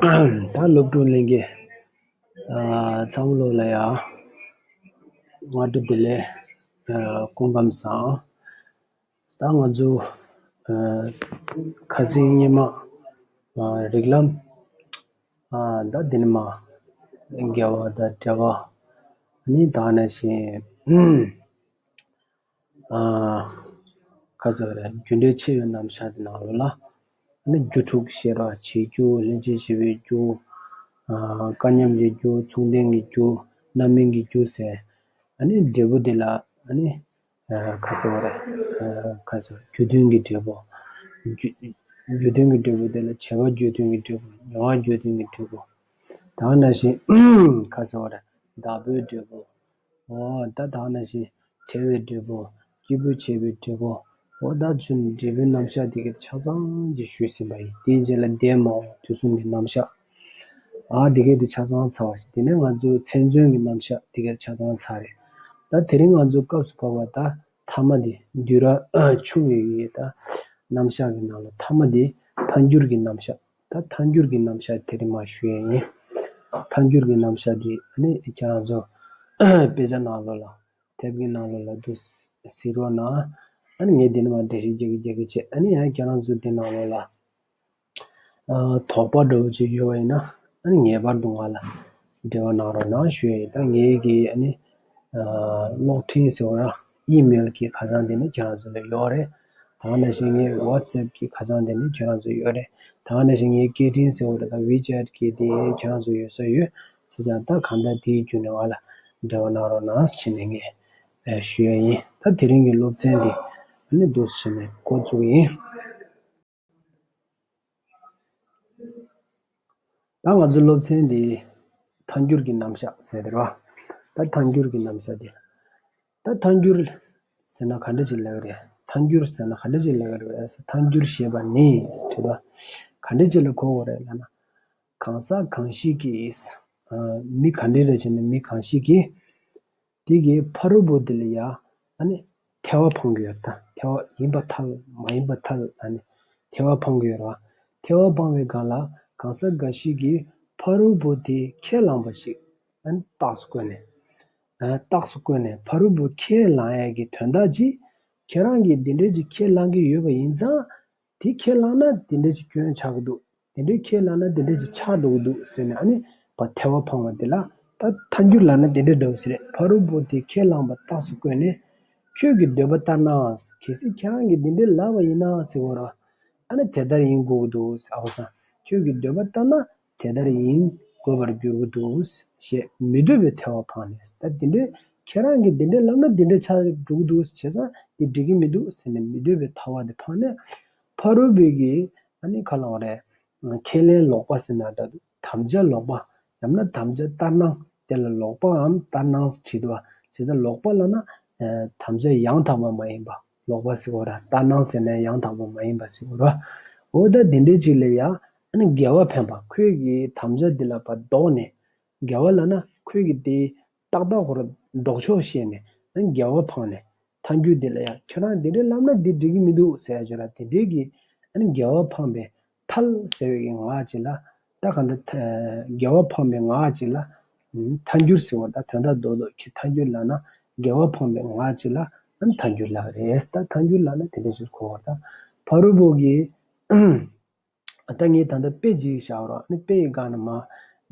ད་སློབ་ཕྲུག་གླིང་གེ་ཚ་བོ་ལོ་ལ་ཡ་ང་དྲུག་དེ་ལས་སྐོང་གམ་སང་ད་ང་ཚོ་ཁ་སིང་སྙེ་མ་རིག་ལམ་ད་དེ་ནས་མ་རྒྱལ་བ་ད་བྲལ་བ་ནི་ད་ནས་བཞིན་ཁ་ཟེར་བ་རྒྱུ་འབྲས་ཆེ་བའི་རྣམ་གཞག་གི་ནང་ཡོད་ལ། ནི་རྒྱུ་དྲུག་ཤེས་རབ་བྱེད་རྒྱུ་སླན་ཆད་ཤེས་པའི་རྒྱུ། སྐལ་མཉམ་གྱི་རྒྱུ་མཚུངས་ལྡན་གྱི་རྒྱུ་རྣམ་སྨིན་གྱི་རྒྱུ་ཟེར། ནི་འབྲས་བུ་དེ་ལ་ནི་ཁ་ཟེར་བ་ཁ་ཟེར་བ་རྒྱུ་མཐུན་གྱི་འབྲས་བུ། རྒྱུ་མཐུན་གྱི་འབྲས་བུ་དེ་ལ་བྱེད་པ་རྒྱུ་མཐུན་གྱི་འབྲས་བུ་མྱོང་བ་རྒྱུ་མཐུན་གྱི་འབྲས་བུ། དང་འདྲ་ཞིང་ཁ་ཟེར་བ་བདག་པོའི་འབྲས་བུ། ད་བདག་ན་བཞིན་བྲལ་བའི་འབྲས་བུ། སྐྱེས་བུ་བྱེད་པའི་འབྲས་བུ། འོ་བདག་ཚུལ་ནི་འབྲས་བུའི་རྣམ་གཞག་དེ་གའི་ཆ་ཚང་གཅིག་ཞུས་ཟིན་པ་ཡིན། དེའི་རྗེས་ལ་འདས་མ་འོངས་དུས་གསུམ་གྱི་རྣམ་གཞག་དེ་གའི་དེ་ཆ་ཚང་ཚར་བ་ཞིག་དེ་ནས་ང་ཚོའི་མཚན་མཚོན་གྱི་རྣམ་གཞག་དེ་གའི་ཆ་ཚང་ཚར་རེད། ད་དེ་རིང་ང་ཚོའི་སྐབས་སུ་བབས་པ་ད་ཐ་མ་དེ་འདུས་ར་ཆུང་བའི་ཡི་ད་རྣམ་གཞག་གི་ནང་ལ་ཐ་མ་དེ་འཕར་འགྱུར་གྱི་རྣམ་གཞག། ད་ཐཱན་འགྱུར་གྱི་རྣམ་བཞག་དེ་རིང་མ་ཞུ་ཡས་ཡིན། ཐཱན་འགྱུར་གྱི་རྣམ་བཞག་དེ་ནི་ཁྱེད་རང་ཚོ་དཔེ་ཆ་ནང་ལོ་ལ་དེབ་གི་ནང་ལོ་ལ་འདུག་ཟིག་རོགས་གནང། ངས་དེ་ནི་མ་འདྲེ་ཞིག་རྒྱག་གི་རྒྱག་གི་བྱས། ཡང་ཁྱེད་རང་ཚོ་དེ་ནང་ལོ་ལ་དོགས་པ་འདྲ་བོ་ཅིག་ཡོད་བ་ཡིན་ན་ངེས་པར་དུ་ང་ལ་འབྲེལ་བ་གནང་རོགས་གནང་ཞུ་ཡས་ཡིན། ད་ངེད་ཀྱི་གློག་འཕྲིན་ཟེར་བ་ཡིམེལ་གྱི་ཁ་སང་དེ་ནི་ཁྱོད་རང་ཚོ་ལ་ཡོད་རེད། ད་ང་ནས་བཞིན་ངའི WhatsApp གྱི་ཁ་སང་དེ་ནི་ཁྱོད་རང་ཚོ་ཡོད་རེད། ད་ང་ནས་བཞིན་ངའི་སྐད་འཕྲིན་ཟེར་བ་དེ་དང WeChat གྱི་དེ་ཁྱོད་རང་ཚོ་ཡོད་ས་ཡོད། ཚོ་ཀྱང་ད་གང་ལྟར་དེའི་བརྒྱུད་ནས་ང་ལ་འབྲེལ་བ་གནང་རོགས་གནང་ཞེས་ནས་ངས་ཞུས་ཡས་ཡིན། ད་དེ་རིང་གི་སློབ་ཚན་དེ་ནི་འདུག་ཞེས་ནས་འགོ་བཙུགས་ཡིན། ད་ང་ཚོའི་སློབ་ཚན་འདི་ཐཱན་འགྱུར་གྱི་རྣམ་གཞག་ཟེར་རེད་བ། ད་ཐཱན་འགྱུར་གྱི་རྣམ་གཞག་འདི། ད་ཐཱན་འགྱུར་ཟེར་ན་ག་འདྲ་ཞིག་ལེགས་རེད། ཐཱན་འགྱུར་ཟེར་ན་ག་འདྲ་ཞིག་ལེགས་རེད་བས་སོ། ཐཱན་འགྱུར་ཞེས་པ་ནི་བྲིས་པ་ག་འདྲ་ཅིག་ལ་གོ་དགོས་རེད་ལབ་ན། གང་ཟག་གང་ཞིག་གིས། མི་ག་འདྲའི་རེད་བྱས་ནས་མི་གང་ཞིག་གིས། དེ་གི་ཕ་རོལ་པོ་དེ་ལ་ཡང་ནི་ཐལ་བ་འཕང་གི་ཐལ་བ་ཡིན་པ་ཐལ་མ་ཡིན་པའི་ཐལ་ལ་ནི་ཐལ་བ་འཕང་གི་རོ། ཐལ་བ་འཕང་བའི་གང་ལ་གང་ཟག་འགའ་ཞིག་གིས་ཕ་རོལ་པོ་དེ་ཁས་བླངས་པ་ཞིག་ན་ནི་རྟགས་སུ་བཀོད་ནས། རྟགས་སུ་བཀོད་ནས་ཕ་རོལ་པོ་ཁས་བླངས་ཡས་ཀྱི་དོན་དག་ཅིག་ཁྱེད་རང་གིས་འདི་འདྲའི་ཅིག་ཁས་བླངས་ཀྱི་ཡོད་པ་ཡིན་ཙང་དེ་ཁས་བླངས་ན་དེ་འདྲ་ཞིག་སྐྱོན་ཆགས་ཀྱི་འདུག་དེ་འདྲ་ཁས་བླངས་ན་དེ་འདྲ་ཞིག་ཆགས་འགྲོ་གི་འདུག་ཟེར་ནས་ཨ་ནི་བ་ཐལ་བ་འཕང་བ་དེ་ལ། ད་ཐལ་འགྱུར་ལགས་ན་དེ་འདྲ་འདྲ་བོ་ཞིག་རེད་ཕ་རོལ་པོ་དེ་ཁས་བླངས་པ་རྟགས་སུ་བཀོད་ནས། ཁྱོད་ཀྱི་འདོད་པ་ལྟར་ནའང་གལ་སྲིད་ཁྱེད་རང་གིས་དེ་འདྲའི་ལབ་པ་ཡིན་ནའང་ཟེར་བ་རང། ཨ་ནི་དེ་ལྟར་ཡིན་དགོས་ཀྱི་འདུག་ཨོ་ས། ཁྱོད་ཀྱི་འདོད་པ་ལྟར་ན་དེ་ལྟར་ཡིན་དགོས་པར་འགྱུར་གྱི་འདུག་ཞེས་མི་འདོད་པའི་ཐལ་བ་འཕངས་ནས་ད་འདི་འདྲའི་ཁྱེད་རང་གིས་འདི་འདྲའི་ལབ་ན་འདི་འདྲའི་ཆགས་འགྲོ་གི་འདུག་བྱས་ཙང་འདི་འགྲིག་གི་མི་འདུག་ཟེར་ནས་མི་འདོད་པའི་ཐལ་བ་དེ་འཕངས་ནས། ཕ་རོལ་པོའི་གི་ཨ་ནི་ཁ་ལོག་རེད། ཁས་ལེན་ལོག་པ་ཟེར་ན་ད་དུ་དམ་བཅའ་ལོག་པ། ཡང་ན་དམ་བཅའ་ལྟར་སྣང་དེ་ལ་ལོག་པའམ་ལྟར་སྣང་བྲིས་པ། བྱས་ཙང་ལོག་པ་ལ་ན། དམ་བཅའ་ཡང་དག་པ་མ་ཡིན་པ། ལོག་པ་སིག་བོར་ལྟར་སྣང་ཟེར་ནས་ཡང་དག་པ་མ་ཡིན་པ་སིག་བོར་བ་འོ་ད་དེ་འདྲའི་ཅིག་ལ་ཡང་ཨ་ནི་འགལ་བ་འཕེན་པ་ཁོས་ཀྱི་དམ་བཅའ་འདི་ལ་བར་དོགས་ནས་འགལ་བ་ལ་ན་ཁོས་ཀྱི་དེ་ཏག་ཏག་བོར་འདོགས་ཆོག་ཤེས་ནས་ཨ་ནི་འགལ་བ་འཕང་ནས་མཐའ་འགྱུར་འདི་ལ་ཡང་ཁྱོད་རང་དེ་འདྲའི་ལབ་ན་དེ་འགྲིག་གི་མི་འདུག་ཟེར་ཡ་བྱོས་ལ་དེ་འདྲའི་གི་ཨ་ནི་འགལ་བ་འཕངས་པའི་ཐལ། ཟེར་བའི་ངག་ཅིག་ལ། ད་ག་འདི། རྒྱལ་བ་འཕངས་པའི་ངག་ཅིག་ལ། མཐའ་འགྱུར་ཟེར་བ་ད་དོན་དག་རྡོ་ལོག་གི་མཐའ་འགྱུར་ལགས་ན། རྒྱལ་བ་འཕངས་པའི་ངག་ཅིག་ལ། མཐའ་འགྱུར་ལགས་རེད། ད་མཐའ་འགྱུར་ལགས་ན་དེ་འདྲ་ཞིག་གོ་བ་ད། ཕ་རོལ་པོ་གིས། ད་ངས་ད་ལྟ་དཔེ་ཅིག་བཞག་རོགས་ཨ་ནི་དཔེ་ཡི་སྒང་ན་མ།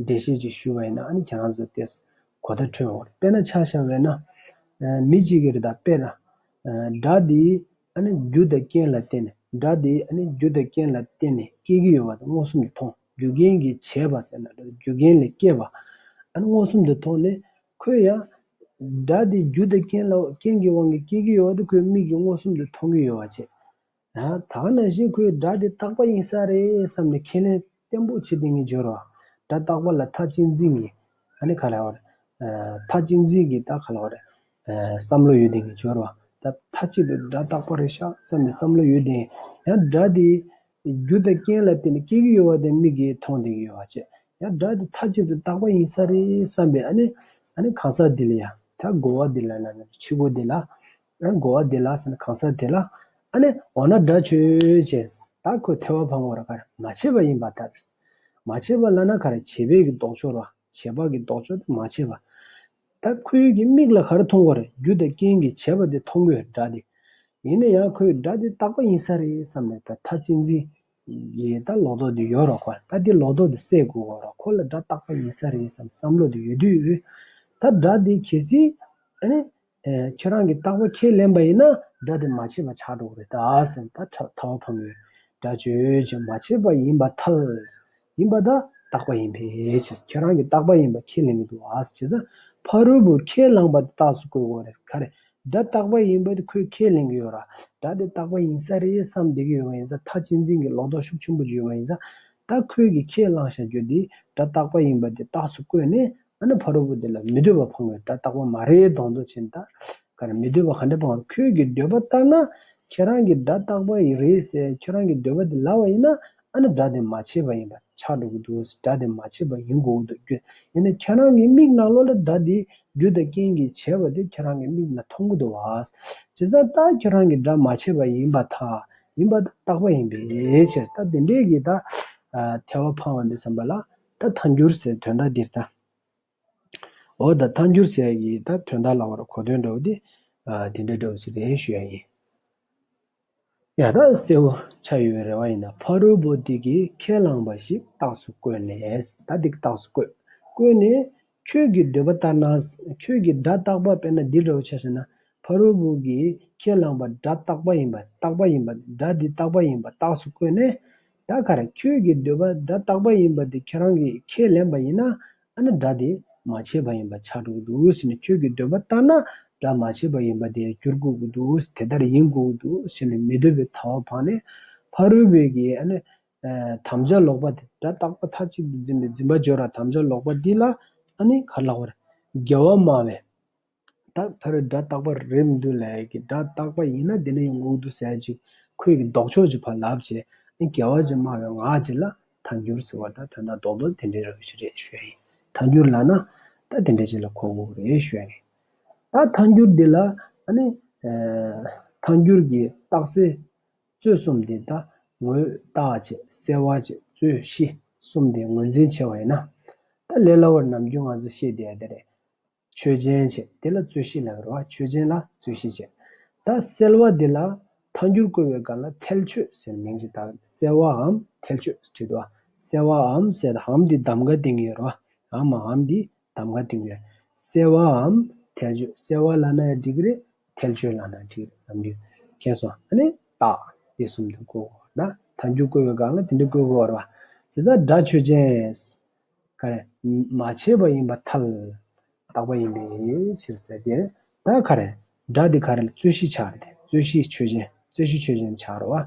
འགྲེལ་བཤད་ཅིག་ཞུ་བ་ཡིན་ན་ཨ་ནི་ཁྱེད་རང་ཚོས་དེས། གོ་བརྡ་འཕྲོད་འོང། དཔེར་ན་ཆ་བཞག་བས་ན། མི་གཅིག་གིར་ད་དཔེར། སྒྲ་འདིའི། རྒྱུ་དང་རྐྱེན་ལ་བརྟེན་ནས་སྒྲ་དེ་རྒྱུ་དང་རྐྱེན་ལ་བརྟེན་ནས་སྐྱེ་གི་ཡོད་པ་དང་མངོན་སུམ་དུ་མཐོང་རྒྱུ་རྐྱེན་གྱིས་བྱས་པ་ཟེར་ན་སྒྲ་དེ་རྒྱུ་རྐྱེན་ལས་སྐྱེས་པ་མངོན་སུམ་དུ་མཐོང་ནས། ཁོས་ཡང། སྒྲ་དེ་རྒྱུ་དང་རྐྱེན་ལ་རྐྱེན་གྱི་དབང་གིས་སྐྱེ་གི་ཡོད་པ་དེ་ཁོའི་མིག་གིས་མངོན་སུམ་དུ་མཐོང་གི་ཡོད་པ་བྱས། ད་ནང་བཞིན་ཁོས་སྒྲ་དེ་རྟག་པ་ཡིན་ས་རེད་བསམ་ནས་ཁས་ལེན། བརྟན་པོ་ཆེ་ཏིང་ངེ་འབྱོར་བ། སྒྲ་རྟག་པ་ལ་མཐའ་གཅིག་འཛིན་གྱི། ཨ་ནི་ཁ་ལ་བ། མཐའ་གཅིག་འཛིན་གྱི་རྟགས་ཁ་ལ་བ། བསམ་བློ་ཡོད་ཏིང་ངེ་འབྱོར་བ། མཐའ་གཅིག་ཏུ་སྒྲ་རྟག་པ་རེད་ཤག་བསམ་པའི་བསམ་བློ་ཡོད་ཏིང། ཡང་སྒྲ་དེ། རྒྱུ་དང་རྐྱེན་ལ་བརྟེན་ནས་སྐྱེ་གི་ཡོད་བ་དེ་མིག་གིས་མཐོང་ཏིང་ངེ་ཡོད་བ་བྱས། ཡང་སྒྲ་དེ་མཐའ་གཅིག་ཏུ་རྟག་པ་ཡིན་ས་རེད་བསམ་པའི་ཨ་ནི། ཨ་ནི་གང་ཟག་དེ་ལ་ཡང། མཐའ་བསྒོ་བ་དེ་ལ་ན་ནི་ཕྱི་སྒོ་དེ་ལ། ཡང་སྒོ་བ་དེ་ལ་ཟེར་ན་གང་ཟག་དེ་ལ་ཨ་ནེ་འོ་ན་དགྲ་བྱོས་ཅེས་ད་ཁོས་ཐལ་བ་འཕང་བར་གར་མ་བྱེད་པ་ཡིན་པ་ལྟར། མ་བྱེད་པ་བླ་ན་གར་བྱེད་བས་ཀྱི་ལྡོག་ཕྱོགས་རོ་བྱེད་པ་ཀྱི་ལྡོག་ཕྱོགས་དེ་མ་བྱེད་པ། ད་ཁོའི་ཀྱི་མིག་ལ་གར་མཐོང་བར་རྒྱུ་དང་རྐྱེན་གྱིས་བྱས་པ་དེ་མཐོང་གོས་སྒྲ་དེ་ཡིན་ན་ཡང་ཁོས་སྒྲ་དེ་བཏགས་པ་ཡིན་ས་རེད་བསམ་ནས་ད་ཐ་ཅི་འཛིན་གྱིས་ད་ལོག་རྟོག་དེ་ཡོད་རོགས་གོ་ད་དེ་ལོག་རྟོག་དེ་སེལ་དགོས་གོ་རོགས་ཁོ་ལ་སྒྲ་བཏགས་པ་ཡིན་ས་རེད་བསམ་བསམ་བློ་དེ་ཡོད་དུས་ད་སྒྲ་དེ་གལ་སྲིད་ཨ་ནེ། ཁྱེད་རང་གིས་རྟག་པ་ཁས་ལེན་པ་ཡིན་ན་སྒྲ་དེ་མ་བྱས་པ་ཆགས་འགྲོ་གི་རེད་ད་ཟེར་ན་ད་ཐ་བ་ཕམ་ཡོད། སྒྲ་བརྗོད་བྱ་མ་བྱས་པ་ཡིན་པ་ཐལ། ཡིན་པ་ད་རྟག་པ་ཡིན་པས་བྱས་ཁྱེད་རང་གིས་རྟག་པ་ཡིན་པ་ཁས་ལེན་གི་འདུག་བྱས་ཙང་ཕ་རོལ་པོས་ཁས་བླངས་པ་དེ་རྟགས་སུ་བཀོད་དགོས་རེད་ཁ་རེད། སྒྲ་རྟག་པ་ཡིན་པ་དེ་ཁོས་ཁས་ལེན་གི་ཡོད་ར། སྒྲ་དེ་རྟག་པ་ཡིན་ས་རེད་བསམ་བསྡད་ཀྱི་ཡོད་པ་ཡིན་ས་ཐ་གཅེས་འཛིན་གྱི་ལོག་རྟོག་ཤུགས་ཆེན་པོ་བརྗོད་པ་ཡིན་ས། ད་ཁོས་ཀྱིས་ཁས་བླངས་བྱ་རྒྱུ་དེ་སྒྲ་རྟག་པ་ཡིན་པ་དེ་རྟགས་སུ་བཀོད་ནས་ཨ་ན་བྷ་རོ་བུ་དེ་ལ་མི་འདོད་པ་འཕང་བའི་སྒྲ་རྟག་པ་མ་རེད་གདོང་དུ་ཕྱིན་ལྟར་གར་མི་འདོད་པ་ག་འདྲ་འཕང་བར་ཁྱོད་ཀྱི་འདོད་པ་ལྟར་ན་ཁྱེད་རང་གི་སྒྲ་རྟག་པ་ཡིན་རེད་ཟེར་ཁྱོད་རང་གི་འདོད་པ་དེ་ལགས་པ་ཡིན་ན་ཨ་ན་སྒྲ་དེ་མ་བྱས་པ་ཡིན་པ་ཆགས་འགྲོ་གི་འདུག་སྒྲ་དེ་མ་བྱས་པ་ཡིན་དགོས་ཀྱི་འདུག་རྒྱུ་ཡིན་ན་ཁྱེད་རང་གི་མིག་ནག་ལོ་ལ་སྒྲ་དེ་རྒྱུ་དང་རྐྱེན་གྱིས་བྱས་པ་དེ་ཁྱེད་རང་གི་མིག་ནག་མཐོང་གི་འདུག་བཱས་ཇི་ཙམ་ལྟར་ཁྱོད་རང་གི་སྒྲ་མ་བྱས་པ་ཡིན་པ་དག་ཡིན་པ་དག་རྟག་པ་ཡིན་པའི་ཕྱིར་ད་དེ་འདྲས་ཀྱི་ད་ཐལ་བ་འཕང་བ་འདི་བསམ་པ་ལ་ད་ཐ་འགྱུར་ཟེར་དོན་དག་འདིར་ལྟ། འོ་ད་ཐ་འགྱུར་ཟེར་ཡ་ཡིས་ད་དོན་དག་ལ་བར་གོ་དོན་འདྲ་བོ་དེ། དེ་འདྲ་འདྲ་བོ་ཟེར་དེ་ཞུ་ཡ་ཡིན། ཡ་ད་གསལ་བོ་ཆགས་ཡོད་རེ་བ་ཡིན་ན་ཕ་རོལ་པོ་དེ་གིས་ཁས་བླངས་པ་ཞིག་རྟགས་སུ་བཀོད་ནས། ད་དེ་རྟགས་སུ་བཀོད། བཀོད་ནས། ཁྱོད་ཀྱི་འདོད་པ་ལྟར་ན། ཁྱོད་ཀྱིས་སྒྲ་རྟག་པ་དཔེར་ན་འདི་འདྲ་བོ་བྱས་ཟེར་ན། ཕ་རོལ་པོ་གིས་ཁས་བླངས་པ་སྒྲ་རྟག་པ་ཡིན་པ་རྟག་པ་ཡིན་པ་སྒྲ་འདི་རྟག་པ་ཡིན་པ་རྟགས་སུ་བཀོད་ནས། ད་གར་ཁྱོད་ཀྱི་འདོད་པ་སྒྲ་རྟག་པ་ཡིན་པ་དེ་ཁྱོད་རང་གིས་ཁས་ལེན་པ་ཡིན་ན། ཨ་ན་སྒྲ་དེ་མ་བྱས་པ་ཡིན་པ་ཆགས་འགྲོ་གི་འདུག་ཟེར་ནས་ཁྱོད་ཀྱི་འདོད་པ་ལྟར་ན་སྒྲ་མ་བྱས་པ་ཡིན་པ་དེ་འགྱུར་དགོས་ཀྱི་འདུག་དེ་ལྟར་ཡིན་དགོས་ཀྱི་འདུག་ཟེར་ནས་མི་འདོད་པའི་ཐ་བ་འཕངས་ནས། ཕ་རོལ་པོས་ཀྱིས་ཨ་ན་དམ་བཅའ་ལོག་པ་དེ་སྒྲ་རྟག་པ་མཐའ་གཅིག་ཏུ་འཛིན་པའི་འཛིན་པ་སྦྱོར་བ་དམ་བཅའ་ལོག་པ་འདི་ལ་ནི་གར་ལགས་པར། རྒྱལ་བ་སྨྲ་བས། དག་འཕེར་སྒྲ་རྟག་པར་རེད་མི་འདུག་ལས་ཀྱི་སྒྲ་རྟག་པ་ཡིན་ན་དེ་ནི་ཡང་ངུ་འདུག་ཟད་ཅིག་ཁོད་ཀྱི་ལྡོག་ཕྱོགས་ཀྱི་བར་ལབ་ཅེས་ནི་རྒྱལ་བ་ཅེས་སྨྲ་བའི་ངག་གཅིག་ལ་ཐ་འགྱུར་ཟེར་བ་ད་དོན་དང་ལྡོག་ཏུ་དེ་འདྲའི་རང་བཞིན་རེད་ཞུས་ཡིན་ཐ་འགྱུར་ལ་ན། ད་དེ་འདྲའི་ཆེད་ལ་ཁོག་འགུགས་རེད་ཞུས་ཡིན། ད་ཐ་འགྱུར་འདི་ལ་ནི། ཐ་འགྱུར་གྱི་རྟགས་ཚེ་རྩོད་གསུམ་འདི་ལྟ་ངོ། རྟག་ཆད་བསལ་བ་ཆད་རྩོད་གཞི་གསུམ་འདི་ངོས་འཛིན་བྱེད་པ་ཡིན་ན། ད་ལས་སླ་བོར་ནམ་རྒྱུན་ང་ཚོས་ཤེས་བསྡད་དེ་རེད། ཆོས་ཅན་ཆད་དེ་ལ་རྩོད་གཞི་ལ་ཟེར་བ་ཆོས་ཅན་ལ་རྩོད་གཞི་ཆད། ད་བསལ་བ་འདི་ལ་ཐང་འགྱུར་བཀོལ་བའི་སྒང་ལ་ཐལ་ཆོད་ཟེར་མིང་ཅིག་བཏགས་བསལ་བའམ་ཐལ་ཆོད་བྲིས་འདུག་བསལ་བའམ་བསལ་བའམ་འདི་གདམ་ག་སྟེང་གི་ཡོད་རེད་བ། འམ་འམ་འདི་གདམ་ག་འདིང་བའི་གསལ་བའམ་ཐལ་ཆོས་གསལ་བ་ལ་ན་འགྲིག་རེད་ཐལ་ཆོས་ལ་ན་འགྲིག་རེད་ལབ་རྒྱུ་མཁྱེན་སོང་ཨ་ནི་བརྟག་དེ་གསུམ་དུ་བཀོད་དགོས་བ་ན་ད་རྒྱུ་བཀོད་པའི་སྒང་ལ་དེ་འདྲ་བཀོད་དགོས་བ་རེད་བྱས་ཙང་སྒྲ་ཆོས་ཅནས་ག་རེ་མ་བྱས་པ་ཡིན་པ་ཐལ། བརྟག་པ་ཡིན་པའི་ཕྱིར་ཟེར་དེ་ད་ག་རེ་སྒྲ་དེ་ག་རེ་ལ་རྩོད་གཞི་ཆགས་རེད་དེ་རྩོད་གཞི་ཆོས་ཅན་རྩོད་གཞི་ཆོས་ཅན་ཆགས་རོ་བ།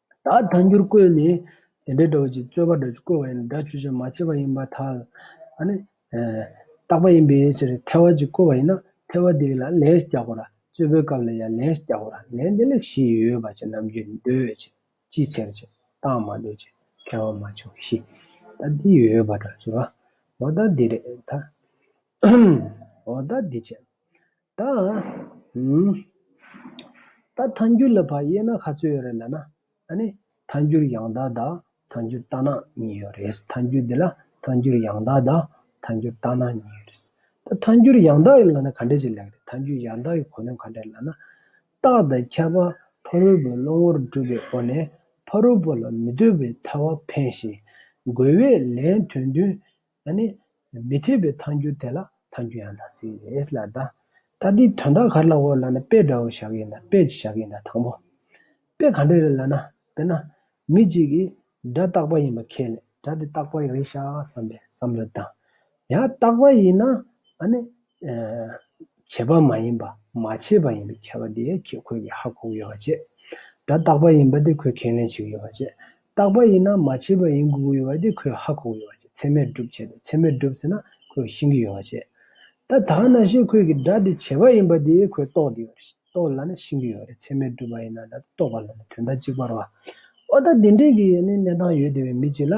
ད་ལྟ་འགྱུར་བཀོད་ནི་དེ་འདྲའི་སྒྲ་བཅུ་རྩོད་པ་སྒྲ་བཅུ་བཀོད་པ་ཡིན་ནོ། སྒྲ་བཅུ་ཆ་མ་ཕྱེད་པ་ཡིན་པ་དག་ལ་ནི། བཏགས་པ་ཡིན་པའི་ཕྱིར་ཐལ་བ་ཅིག་བཀོད་པ་ཡིན་ན་ཐལ་བ་དེ་ལ་ལན་རྒྱག་གོ། རྩོད་པའི་སྐབས་ལ་ཡང་ལན་རྒྱག་གོ། ལན་འདི་ལ་བཞི་ཡོད་པ་ཅན་རྣམས་རྒྱུད་ནི་འདོད་ཅིང་ཅིའི་ཕྱིར་ཅེ་ན་རྟགས་མ་འདོད་ཅིང་ཁྱད་པར་མ་བྱུང་བཞི། ད་འདི་ཡོད་པར་སྒྲ་བཅུ་བ། འོ་ད་འདི་རེད། འོ་ད་འདི་བྱས། ད་ཨང། ད་ཐ་འགྱུར་ལ་བར་དབྱེ་ན་ག་ཚོད་ཡོད་རེད་ལ་ན། ཨ་ནི། ཐ་འགྱུར་ཡང་དག་དང་ཐ་འགྱུར་རྟགས་ནག་གཉིས་ཡོད་རེད། ཐ་འགྱུར་འདི་ལ་ཐ་འགྱུར་ཡང་དག་དང་ཐ་འགྱུར་རྟགས་ནག་གཉིས་ཡོད་རེད། ད་ཐ་འགྱུར་ཡང་དག་ཡོད་ལ་ན་ག་འདྲ་ཞིག་ལེགས་རེད་ཐ་འགྱུར་ཡང་དག་གི་གོ་དོན་ག་འདྲ་ལ་ན། རྟགས་དང་ཁྱད་པར་ཕ་རོལ་པོའི་བློ་ངོར་སྒྲུབ་པའི་སྒོ་ནས་ཕ་རོལ་པོ་ལ་མི་ལྟོས་པའི་ཐལ་བ་འཕེན་ཞིང། རྒོལ་བས་ལན་དོན་བདུན་ད་ནི་མི་ཐེག་པའི་མཐའ་འགྱུར་དེ་ལ་མཐའ་འགྱུར་ཡང་དང་སྲིད་ཨེས་ལ་ད། ད་དེའི་དོན་དག་གར་ལའོ་ལ་ན་དཔེ་འདྲ་བོ་བཞག་གིན་ད་དཔེ་ཅི་བཞག་གིན་ད་དང་པོ། དཔེ་ག་འདྲ་རེད་ལ་ན་དཔེར་ན། མི་གཅིག་གིས་སྒྲ་རྟག་པ་ཡིན་པ་ཁས་ལེན་སྒྲ་དེ་རྟག་པ་རེད་ཤག་བསམ་པའི་བསམ་བློ་བཏང། ཡང་རྟག་པ་ཡིན་ན་ཨ་ནི་བྱེད་པ་མ་ཡིན་པ་མ་བྱས་པ་ཡིན་པའི་ཁྱད་པར་དེ་ཁྱེད་ཁོས་ཀྱི་ཧ་གོ་གི་ཡོད་པ་བྱེད། སྒྲ་རྟག་པ་ཡིན་པ་དེ་ཁོས་ཁས་ལེན་བྱེད་གི་ཡོད་པ་བྱེད། རྟག་པ་ཡིན་ན་མ་བྱས་པ་ཡིན་དགོས་གི་ཡོད་པ་དེ་ཁོས་ཧ་གོ་གི་ཡོད་པ་བྱེད་ཚད་མས་སྒྲུབ་བྱེད་དེ་ཚད་མས་སྒྲུབ་ཟེར་ན་ཁོས་ཤེས་གི་ཡོད་པ་བྱེད། ད་དག་ན་ཞེས་ཁོས་ཀྱི་སྒྲ་དེ་བྱེད་པ་ཡིན་པ་དེ་ཁོས་རྟོགས་དེ་ཡོད་རྟོགས་ལ་ན་ཤེས་གི་ཡོད་རེད་ཚད་མས་སྒྲུབ་པ་ཡིན་ན་ད་རྟོགས་པ་ལ་ན་དོན་དག་གཅིག་པར་བ། ཨོ་ད་དེ་འདྲའི་གི་ནི་གནས་སྟངས་ཡོད་དེ་བས་མི་གཅིག་ལ།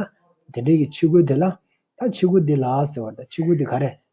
དེ་འདྲའི་གི་ཕྱི་གོས་དེ་ལ། ད་ཕྱི་གོས་དེ་ལ་ཟེར་བར་ད་ཕྱི་གོས་དེ་ག་རེད་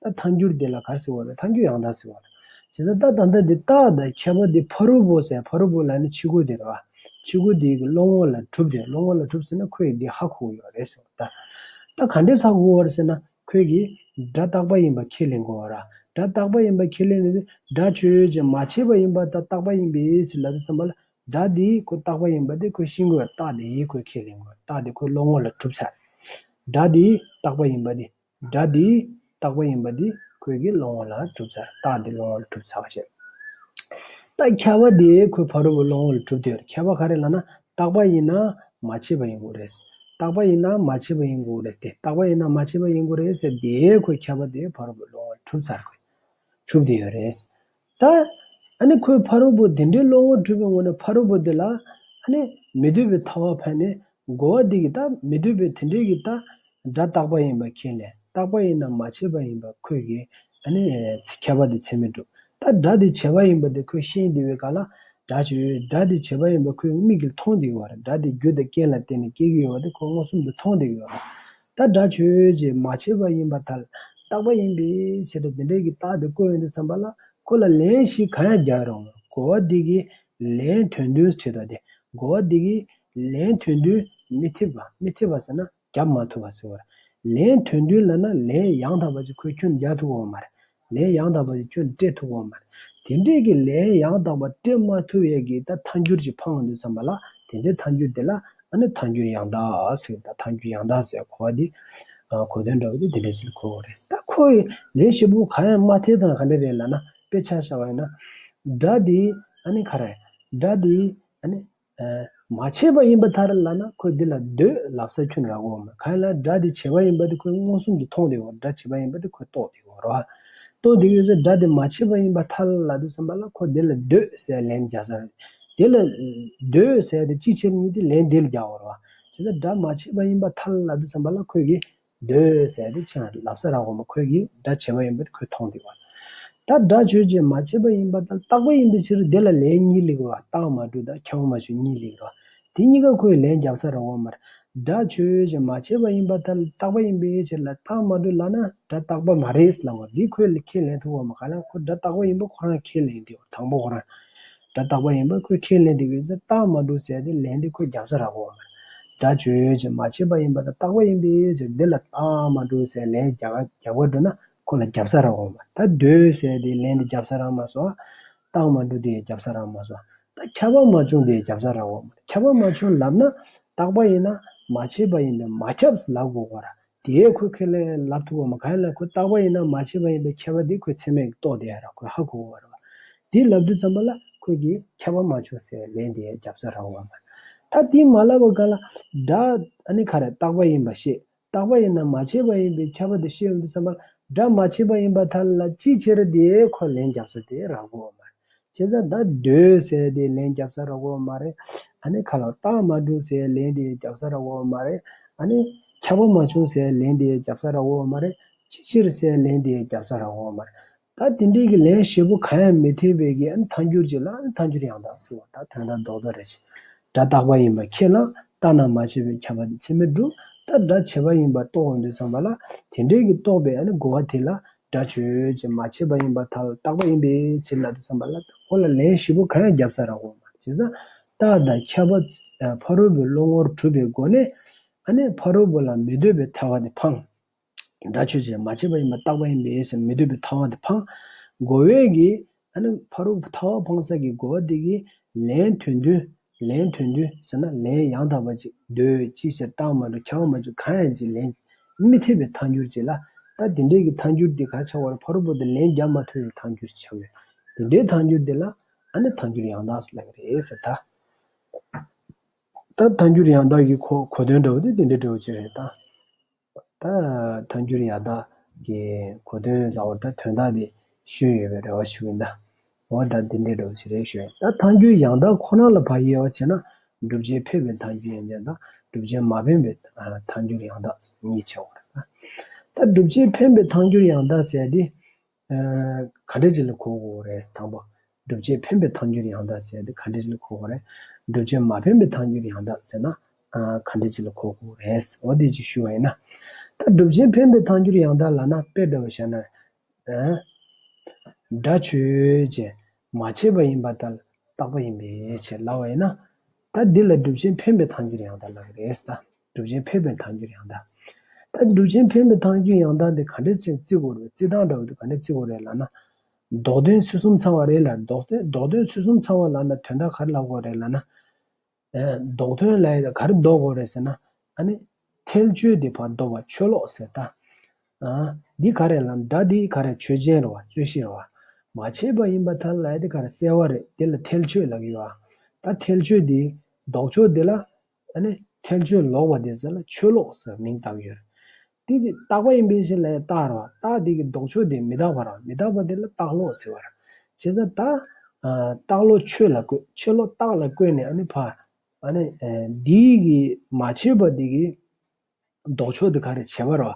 ད་ལྟ་མཐའ་འགྱུར་དེ་ལ་གར་ཟེར་བ་ལས་མཐའ་འགྱུར་ཡང་དག་ཟེར་བ་དང། བྱས་ཙང་ད་ད་ལྟ་དེ་ད་ད་ཁྱད་པར་དེ་ཕ་རོལ་པོ་ཟེར་ཕ་རོལ་པོ་ལ་ནི་ཕྱི་སྒོ་དེ་རེད་བ། ཕྱི་སྒོ་དེ་ཡི་གི་སློང་ངོ་ལ་གྲུབ་དེ་སློང་ངོ་ལ་གྲུབ་ཟེར་ན་ཁོས་ཡི་འདི་ཧ་གོ་གི་ཡོད་རེད་ཟེར་བ་ལྟར། ད་ག་འདྲའི་ཧ་གོ་གི་ཡོད་ཟེར་ན་ཁོས་གི་སྒྲ་རྟག་པ་ཡིན་པ་ཁས་ལེན་དགོས་བ་ར། སྒྲ་རྟག་པ་ཡིན་པ་ཁས་ལེན་ནས་དེ་སྒྲ་ཆོས་ཡོད་ཅེས་མ་བྱས་པ་ཡིན་པ་ད་རྟག་པ་ཡིན་པས་ཚིག་ལ་དེ་བསམ་པ་ལ་སྒྲ་དེ་ཡི་གོ་རྟག་པ་ཡིན་པ་དེ་ཁོས་ཤིང་གོས་རྟག་དེ་ཡི་གོས་ཁས་ལེན་དགོས་རྟག་དེ་ཁོས་སློང་ངོ་ལ་གྲུབ་ཚར་རེད། སྒྲ་དེ་ཡི་རྟག་པ་ཡིན་པ་དེ། སྒྲ་འདི་རྟག་པ་ཡིན་པ་འདི་ཁོད་ཀྱི་བློ་ངོར་ལ་གྲུབ་ཚར་རྟགས་འདི་བློ་ངོར་གྲུབ་ཚར་བ་ཞེས། རྟགས་ཁྱད་པ་འདི་ཁོད་ཕ་རོལ་པོ་བློ་ངོར་ལ་གྲུབ་དེར་ཁྱད་པ་ག་རེ་ལ་ན་རྟག་པ་ཡིན་ན་མ་བྱས་པ་ཡིན་དགོས་རེད། རྟག་པ་ཡིན་ན་མ་བྱས་པ་ཡིན་དགོས་རེད་དེ་རྟག་པ་ཡིན་ན་མ་བྱས་པ་ཡིན་དགོས་རེད་ཟེར་དེའི་ཁོད་ཁྱད་པ་འདི་ཕ་རོལ་པོ་བློ་ངོར་གྲུབ་ཚར་གྲུབ་དེ་ཡོད་རེད། ད་ནི་ཁོས་ཕ་རོལ་པོ་འདི་འདྲའི་བློ་ངོར་འཁྲུལ་པའི་ངོ་ནས་ཕ་རོལ་པོ་འདི་ལ་མི་འདོད་པའི་ཐ་བ་ཕན་ནས་རྒོལ་བ་འདི་གི་ད་མི་འདོད་པའི་དེ་འདྲའི་གི་ད་སྒྲ་རྟག་པ་ཡིན་པ་མཁྱེན་ནས་རྟག་པ་ཡིན་ནམ་མ་བྱས་པ་ཡིན་པ་ཁོས་གི་ཁྱད་པར་དུ་ཚད་མས་གྲུབ་ད་སྒྲ་འདི་བྱས་པ་ཡིན་པ་འདི་ཁོས་ཤེས་འདི་བའི་ག་ལ་སྒྲ་བྱས་སྒྲ་འདི་བྱས་པ་ཡིན་པ་ཁོས་མིག་གིས་མཐོང་འདི་གི་བར་སྒྲ་འདི་རྒྱུ་དང་རྐྱེན་ལ་བརྟེན་ནས་སྐྱེ་གི་ཡོད་པ་འདི་ཁོས་མངོན་སུམ་དུ་མཐོང་འདི་གི་བར་ད་སྒྲ་ཆོས་ཀྱིས་མ་བྱས་པ་ཡིན་པར་ཐལ། རྟག་པ་ཡིན་པའི་ཕྱིར་དུ་དེ་འདྲ་གི་རྟགས་དེ་དཀོན་ཡོད་དུ་བསམ་པ་ལ་ཁོ་ལ་ལན་ཞིག་གང་ཡང་རྒྱག་རུང་གོ་བ་འདི་གིས་ལན་ཐོན་དུས་ཁྲིད་པ་དེ་གོ་བ་འདི་གིས་ལན་ཐོན་དུས་མི་ཐེབས་པ་མི་ཐེབས་པ་ཟེར་ན་རྒྱབ་མ་ཐུབ་པ་ཟེར་བར། ལན་ཐོན་དུས་ལ་ན་ལན་ཡང་དག་པ་ཅིག་ཁོས་ཁྱོད་རྒྱག་ཐུབ་འོང་མ་རེད། ལན་ཡང་དག་པ་དེ་ཁྱོད་སྤྲད་ཐུབ་བམ། དེ་འདྲས་ཀྱི་ལན་ཡང་དག་པ་སྤྲད་མ་ཐུབ་ཡས་ཀྱི་ད་ཐཱན་འགྱུར་གྱི་འཕང་དུ་བརྩམས་པ་ལ་དེ་འདྲའི་ཐཱན་འགྱུར་དེ་ལ་ཨ་ནི་ཐཱན་འགྱུར་ཡང་དག་ཟེར་ད་ཐཱན་འགྱུར་ཡང་དག་ཟེར་གོ་བ་དེ་གོ་དོན་འདྲ་བ་དེ་དེ་འདྲས་ཟེར་གོ་བ་རེད་ད་ཁོ་ཡི་ལན་ཞིབ་པོ་གང་ཡང་མ་ཐེ་དང་ག་འདྲས་རེད་ལ་ན་དཔེ་ཆ་ཤར་བ་ཡིན་ན། སྒྲ་དེ་ཨ་ནི་ག་རེད། སྒྲ་དེ་ཨ་ནི། མ་བྱས་པ་ཡིན་པ་ལྟར་ལབ་ན་ཁོས་འདི་ལ་འདོད་ལབ་ས་ཁྱོད་ར་གོ། གང་ལ་སྒྲ་དེ་བྱས་པ་ཡིན་པ་དེ་ཁོས་མངོན་སུམ་དུ་མཐོང་སྟེ་འོ་སྒྲ་བྱས་པ་ཡིན་པ་དེ་ཁོས་རྟོགས་ཏེ་འོ་རོ། རྟོགས་དེ་ཡོད་ཚད་སྒྲ་དེ་མ་བྱས་པ་ཡིན་པ་ཐ་ལ་ལ་འདུག་བསམ་པ་ལ་ཁོ་དེ་ལ་འདོད་ཟས་ལན་བརྒྱ་ཟ། དེ་ལ་འདོད་ཟས་དེ་ཅི་བྱས་པ་ཉིད་དེ་ལན་དེ་ལ་བརྒྱ་འོ་རོ། བྱས་ཙང་སྒྲ་མ་བྱས་པ་ཡིན་པ་ཐ་ལ་ལ་འདུག་བསམ་པ་ལ་ཁོས་གི་སྡོད་སའི་དུ་ཆེན་ལབ་ས་ར་གོང་མ་ཁོད་ཀྱི་དགྲ་བྱེད་པ་ཡིན་པ་དེ་ཁོས་མཐོང་འདུག་བ། ད་དགྲ་ཆོས་བྱེད་མ་བྱེད་པ་ཡིན་པ་དང་རྟག་པ་ཡིན་པའི་ཕྱིར་དེ་ལ་ལན་གཉིས་ལེགས་རོ་རྟགས་མ་དྲུག་དང་ཁྱེའུ་མ་ཆོས་གཉིས་ལེགས་རོ། དེ་གཉིས་ཀ་ཁོས་ལན་བརྒྱབ་ས་ར་གོང་མར། དགྲ་ཆོས་བྱེད་མ་བྱེད་པ་ཡིན་པ་ད་རྟག་པ་ཡིན་པའི་ཕྱིར་ལ་རྟགས་མ་དྲུག་ལགས་ན་དགྲ་རྟག་པ་མ་རེད་ལབ་བ་འདི་ཁོས་ཁས་ལེན་ཐུབ་བམ་ག་ལ་ཁོ་དགྲ་རྟག་པ་ཡིན་པ་ཁོ་རང་ཁས་ལེན་དེ་བ་དང་པོ་ཁོ་རང་སྒྲ་རྟག་པ་ཡིན་པར་ཁོས་ཁས་ལེན་དེ་ཡོད་ཚད་རྟགས་མ་གྲུབ་ཟེར་ཏེ་ལན་དེ་ཁོས་རྒྱག་ས་རག་གོ། སྒྲ་བརྗོད་ཡོད་ཅེས་མ་བྱས་པ་ཡིན་པ་དང་རྟག་པ་ཡིན་པས་ཟེར་འདི་ལ་རྟགས་མ་གྲུབ་ཟེར་ལན་རྒྱག་རྒྱག་པར་འགྲོ་ན་ཁོ་ལ་རྒྱབ་ས་རག་གོ། ད་སྡོད་ཟེར་ཏེ་ལན་དེ་རྒྱབ་ས་རག་མ་སོང། རྟགས་མ་གྲུབ་དེ་ཡང་རྒྱབ་ས་རག་མ་སོང། ད་ཁྱབ་པ་མ་བྱུང་དེ་ཡང་རྒྱབ་ས་རག་གོ། ཁྱབ་པ་མ་བྱུང་ལབ་ན། རྟག་པ་ཡིན་ན། མ་བྱས་པ་ཡིན་པས་མ་ཁྱབ་ལབ་དགོས་གོ། དེས་ཁོའི་ཁེར་ལས་ལབ་ཐུབ་བ་མ་གང་ལས་ཁོ་རྟག་པ་ཡིན་ན་མ་བྱས་པ་ཡིན་པའི་ཁྱད་པ་དེ་ཁོས་ཚེགས་མེད་ཀྱིས་རྟོགས་བསྡད་ར་ཁོས་ཧ་གོ་བ་རེད་བ། དེ་ལབ་དུས་ཙམ་པོ་ལ་ཁོས་ཀྱིས་ཁྱད་པར་མ་བྱུང་ཟེར་ལན་དེའི་རྒྱབ་རྩ་ར་བ་མ་རེད། ད་དེ་མ་ལབ་བ་གང་ལ་སྒྲ། ཨ་ནི་ག་རེ་རྟག་པ་ཡིན་པ་ཤེས་རྟག་པ་ཡིན་ན་མ་བྱས་པ་ཡིན་པའི་ཁྱད་པ་དེ་ཤེས་འོང་དུས་ཙམ་པོ་ལ་སྒྲ་མ་བྱས་པ་ཡིན་པ་ཐ་ལ་ཅིའི་ཕྱིར་དེའི་ཁོས་ལན་རྒྱབ་རྩ་དེ་ར་གོ་བ་མ་རེད། ཁྱེད་ཅག་ད་སྡོད་ཟེར་དེ་ལན་རྒྱབ་ས་རག་གོ་མ་རེད་ཨ་ནི་ཁ་ལ་རྟགས་མ་འདུག་ཟེར་ལན་དེ་རྒྱབ་ས་རག་གོ་མ་རེད་ཨ་ནི། ཁྱབ་པ་མ་བྱུང་ཟེར་ལན་དེ་རྒྱབ་ས་རག་གོ་མ་རེད་ཅི་ཕྱིར་ཟེར་ལན་དེ་རྒྱབ་ས་རག་གོ་མ་རེད་ད་དེ་འདྲས་ཀྱི་ལན་ཞེ་པོ་གང་ཡང་མི་ཐེབས་པའི་གི་ཨ་ནི་ཐང་འགྱུར་ཅིག་ལ་ཨ་ནི་ཐང་འགྱུར་ཡང་དག་ཟེར་བ་ད་དོན་དག་རྡོག་རྡོག་རེད་ཅིག་སྒྲ་རྟག་པ་ཡིན་པར་ཁས་བླངས། རྟགས་རྣམས་མ་ཕྱེ་བས་ཁྱབ་པ་དེ་ཚད་མས་གྲུབ། རྟགས་སྒྲ་བྱེད་པ་ཡིན་པར་རྟོགས་བར་འདོད་བསམས་པ་ལ། དེ་འབྲས་ཀྱིས་རྟོགས་པས་རྒོལ་བ་དེ་ལ། སྒྲ་བརྗོད་བྱེད་མ་ཕྱེ་བ་ཡིན་པར་ཐལ། རྟག་པ་ཡིན་པས་ཕྱིར་ལབ་དུ་བསམས་པ་ལ། ཁོ་ལ་ལན་བཞི་པོ་གང་ཡང་བརྒྱབ་ས་རག་གོ། བྱས་ཙང། རྟགས་དང་ཁྱབ་པ། ཕ་རོལ་པོའི་བློ་ངོར་གྲུབ་པའི་སྒོ་ནས། ཕ་རོལ་པོ་ལ་མི་འདོད་པའི་ཐལ་བ་དེ་འཕངས། སྒྲ་ཆོས་ཅན། མ་སྐྱེས་པ་ཡིན་པ་རྟག་པ་ཡིན་པས་ཡེ་ཤེས་མི་སྡུད་པའི་ཐ་བ་དེ་འཕང། འགོ་བས་ཀྱི། ཨ་ནི་ཕ་རོལ་པོ་ཐ་བ་འཕང་ས་ཀྱི་འགོ་བ་དེ་ཀྱིས། ལན་དོན་བདུན། ལན་དོན་བདུན་ཟེར་ན་ལན་ཡང་དག་པ་ཅིག་ཟློས། ཅིའི་ཕྱིར་རྟགས་མ་གྲུབ་འཆང་མ་བཅུ་གང་ཡང་ཅིག་ལན། མི་ཐེབས་པའི་མཐའ་འགྱུར་གྱིས་ལ། ད་དེ་འདྲའི་གི་ཐ་འགྱུར་དེ་གར་ཆགས་པར་ཕ་རོལ་པོ་དེ་ལན་བརྒྱ་མ་ཐོས་པའི་ཐ་འགྱུར་ཆགས་ཡོད། དེ་འདྲའི་ཐ་འགྱུར་དེ་ལ། ཨ་ནི་ཐ་འགྱུར་ཡང་དག་ཟེར་ལ་ཀྱི་རེད། ད། ད་ཐ་འགྱུར་ཡང་དག་གི་གོ་གོ་དོན་འདྲ་བོ་དེ་དེ་འདྲའི་འབྲས་བུ་ཅིག་རེད། ད། ད་དོན་འགྱུར་ཡག་དག་གི་གོ་དོན་ལ་འོ་ད་དོན་དག་དེ་ཤོད་ཡོད་པའི་རེ་བ་ཞུ་གིན་ད། འོ་ད་འདི་འདྲའི་སྒྲུབ་བྱེད་རེ་ཤོད་ཡོད་ད་དོན་འགྱུར་ཡག་དག་ཁོ་ན་ལ་བ་ཡེ་བ་བྱས་ན་སྒྲུབ་བྱེད་ཕེབས་པའི་དོན་འགྱུར་ཡང་ཡག་དག་སྒྲུབ་བྱེད་མ་ཕེན་པའི་དོན་འགྱུར་ཡང་དག་གཉིས་ཆེ་བ་རེད་ད། ད་སྒྲུབ་བྱེད་ཕེན་པའི་དོན་འགྱུར་ཡང་དག་ཟེར་དེ་ག་འགྲེལ་བྱེད་ལ་གོ་དགོས་པ་རེད། དང་པོ། སྒྲུབ་བྱེད་འཕེན་པའི་ཐང་རྒྱུད་ཡང་དག་ཟེར་ཏེ་ག་འགྲེལ་བྱེད་ལ་གོ་དགོས་པ་རེད། སྒྲུབ་བྱེད་མ་འཕེན་པའི་ཐང་རྒྱུད་ཡང་དག་ཟེར་ན། ག་འགྲེལ་བྱེད་ལ་གོ་དགོས་པ་རེད། འོ་དེ་ཅིག་ཞུ་བ་ཡིན་ན། ད་སྒྲུབ་བྱེད་འཕེན་པའི་ཐང་རྒྱུད་ཡང་དག་ལ་ན་དཔེ་བཀྲལ་བར་བྱ་ན། སྒྲ་ཆོས་ཅན། མ་བྱས་པ་ཡིན་པ་ལྟར་བཏགས་པ་ཡིན་པའི་ཕྱིར་ལ་བ་ཡིན་ན། ད་འདི་ལ་སྒྲུབ་བྱེད་འཕེན་པའི་ཐང་རྒྱུད་ཡང་དག་ལ་རེད། གྲུབ་ཆེན་ཕན་པའི་ཐང་རྒྱུད་ཡང་དག། ད་ནི་གྲུབ་ཆེན་ཕན་པའི་ཐང་རྒྱུད་ཡང་དག་འདི་ག་འདྲའི་ཚིག་རྩི་གོ་རེད་རྩི་ཐང་འདྲ་བོ་འདི་ག་འདྲའི་ཚིག་གོ་རེད་ལབ་ན། ལྡོག་དོན་ཚུལ་གསུམ་ཚང་བ་རེད་ལ་ལྡོག་དོན་ལྡོག་དོན་ཚུལ་གསུམ་ཚང་བ་ལབ་ན་དོན་དག་ག་རེ་ལབ་དགོས་རེད་ལབ་ན། ལྡོག་དོན་ལ་ག་རེ་ལྡོག་དགོས་རེད་ཟེར་ན། ད་ནི། ཐལ་ཆོས་འདི་བར་དོ་བ་ཆོས་ལོག་ཟེར་ད། འདི་ག་རེད་ལབ་ན་ད་འདི་ག་རེ་ཆོས་ཅན་རེད་བ་རྩོད་གཞི་རེད་བ། མ་བྱས་པ་ཡིན་པ་ད་ལ་འདི་ག་རེ་གསལ་བ་རེད་འདི་ལ་ཐལ་ཆོས་ལབ་ཡོད་ཨ། ད་ཐལ་ཆོས་འདིའི། ལྡོག་ཕྱོགས་འདི་ལ། ད་ནི་ཐལ་ཆོས་ལོག་པ་དེ་ཟེར་ལ་ཆོས་ལོག་ཟེར་མིང་བཏགས་ཡོད། དེ་དེ་རྟག་པ་ཡིན་པའི་ཕྱིར་ལ་ཡང་རྟག་རོ། རྟག་དེ་གི་ལྡོག་ཕྱོགས་དེ་མི་རྟག་པ་རང་མི་རྟག་པ་དེ་ལ་རྟག་ལོག་ཟེར་བར་བྱེད། ད་ལྟ། རྟག་ལོག་ཆོས་ལ་བཀོད་ཕྱིར་ལོག་རྟག་ལ་བཀོད་ནས་ཨ་ནི་བར། ཨ་ནི། འདི་གི་མ་བྱས་པ་དེ་གི། ལྡོག་ཕྱོགས་དེ་ག་རེད་བྱེད་པ་རོ།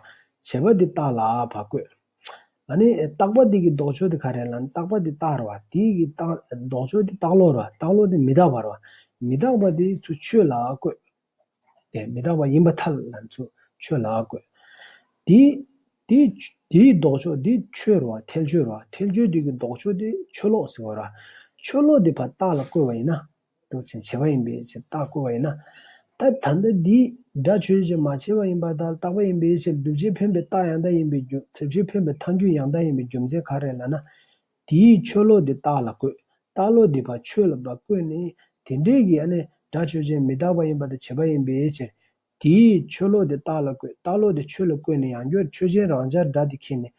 བྱེད་པ་དེ་རྟགས་ལ་བ་བཀོད། ཨ་ནི་རྟགས་པ་དེ་གི་ལྡོག་ཕྱོགས་དེ་ག་རེད་ལ་ནི་རྟགས་པ་དེ་རྟགས་རོ། དེ་གི་ལྡོག་ཕྱོགས་དེ་རྟགས་བློ་རོ། རྟགས་བློ་དེ་མི་རྟག་པ་རོ། མི་རྟག་པ་དེ་ཚུ་ཆོས་ལ་བཀོད། དེ་མི་རྟག་པ་ཡིན་པ་ཐལ་ལ་ནི་ཚུ་ཆོས་ལ་བཀོད། དེ་དེ་དེའི་ལྡོག་ཕྱོགས་དེ་ཆོས་རོ། ཐལ་ཆོས་རོ། ཐལ་ཆོས་དེ་གི་ལྡོག་ཕྱོགས་དེ་ཆོས་ལོག་ཟིན་བ་རོ། ཆོས་ལོག་དེ་བ་རྟགས་ལ་བཀོད་པ་ཡིན་ན། ལྟོས་ཆོས་བྱེད་པ་ཡིན་པའི་ཕྱིར་རྟགས་བཀོད་པ་ཡིན་ན། ད་ལྟ་འདི་དེའི་སྒྲ་ཆོས་ཀྱིས་མ་བྱས་པ་ཡིན་པ་དང་རྟག་པ་ཡིན་པའི་ཕྱིར་སྒྲུབ་བྱེད་འཕེན་པའི་རྟགས་ཡང་དག་ཡིན་པའི་རྒྱུ་མཚན་ཆོས་འཕེན་པའི་མཐའ་འགྱུར་ཡང་དག་ཡིན་པའི་རྒྱུ་མཚན་ག་རེ་ལ་ན། དེའི་ཆོས་བློ་དེ་རྟགས་ལ་བཀོད། རྟགས་བློ་དེ་བ་ཆོས་ལ་བ་བཀོད་ནས། དེ་འབྲེལ་གྱི་སྒྲ་ཆོས་ཅན་མི་རྟག་པ་ཡིན་པ་དང་བྱེད་པ་ཡིན་པའི་ཕྱིར། དེས་ཆོས་ལོག་དེ་རྟགས་ལ་བཀོད་རྟགས་ལོག་དེ་ཆོས་ལ་བཀོད་ནས་ཡང་སྐྱོ་ཆོས་ཅན་རང་ཅག་སྒྲ་དེ་ཁེགས་ནས།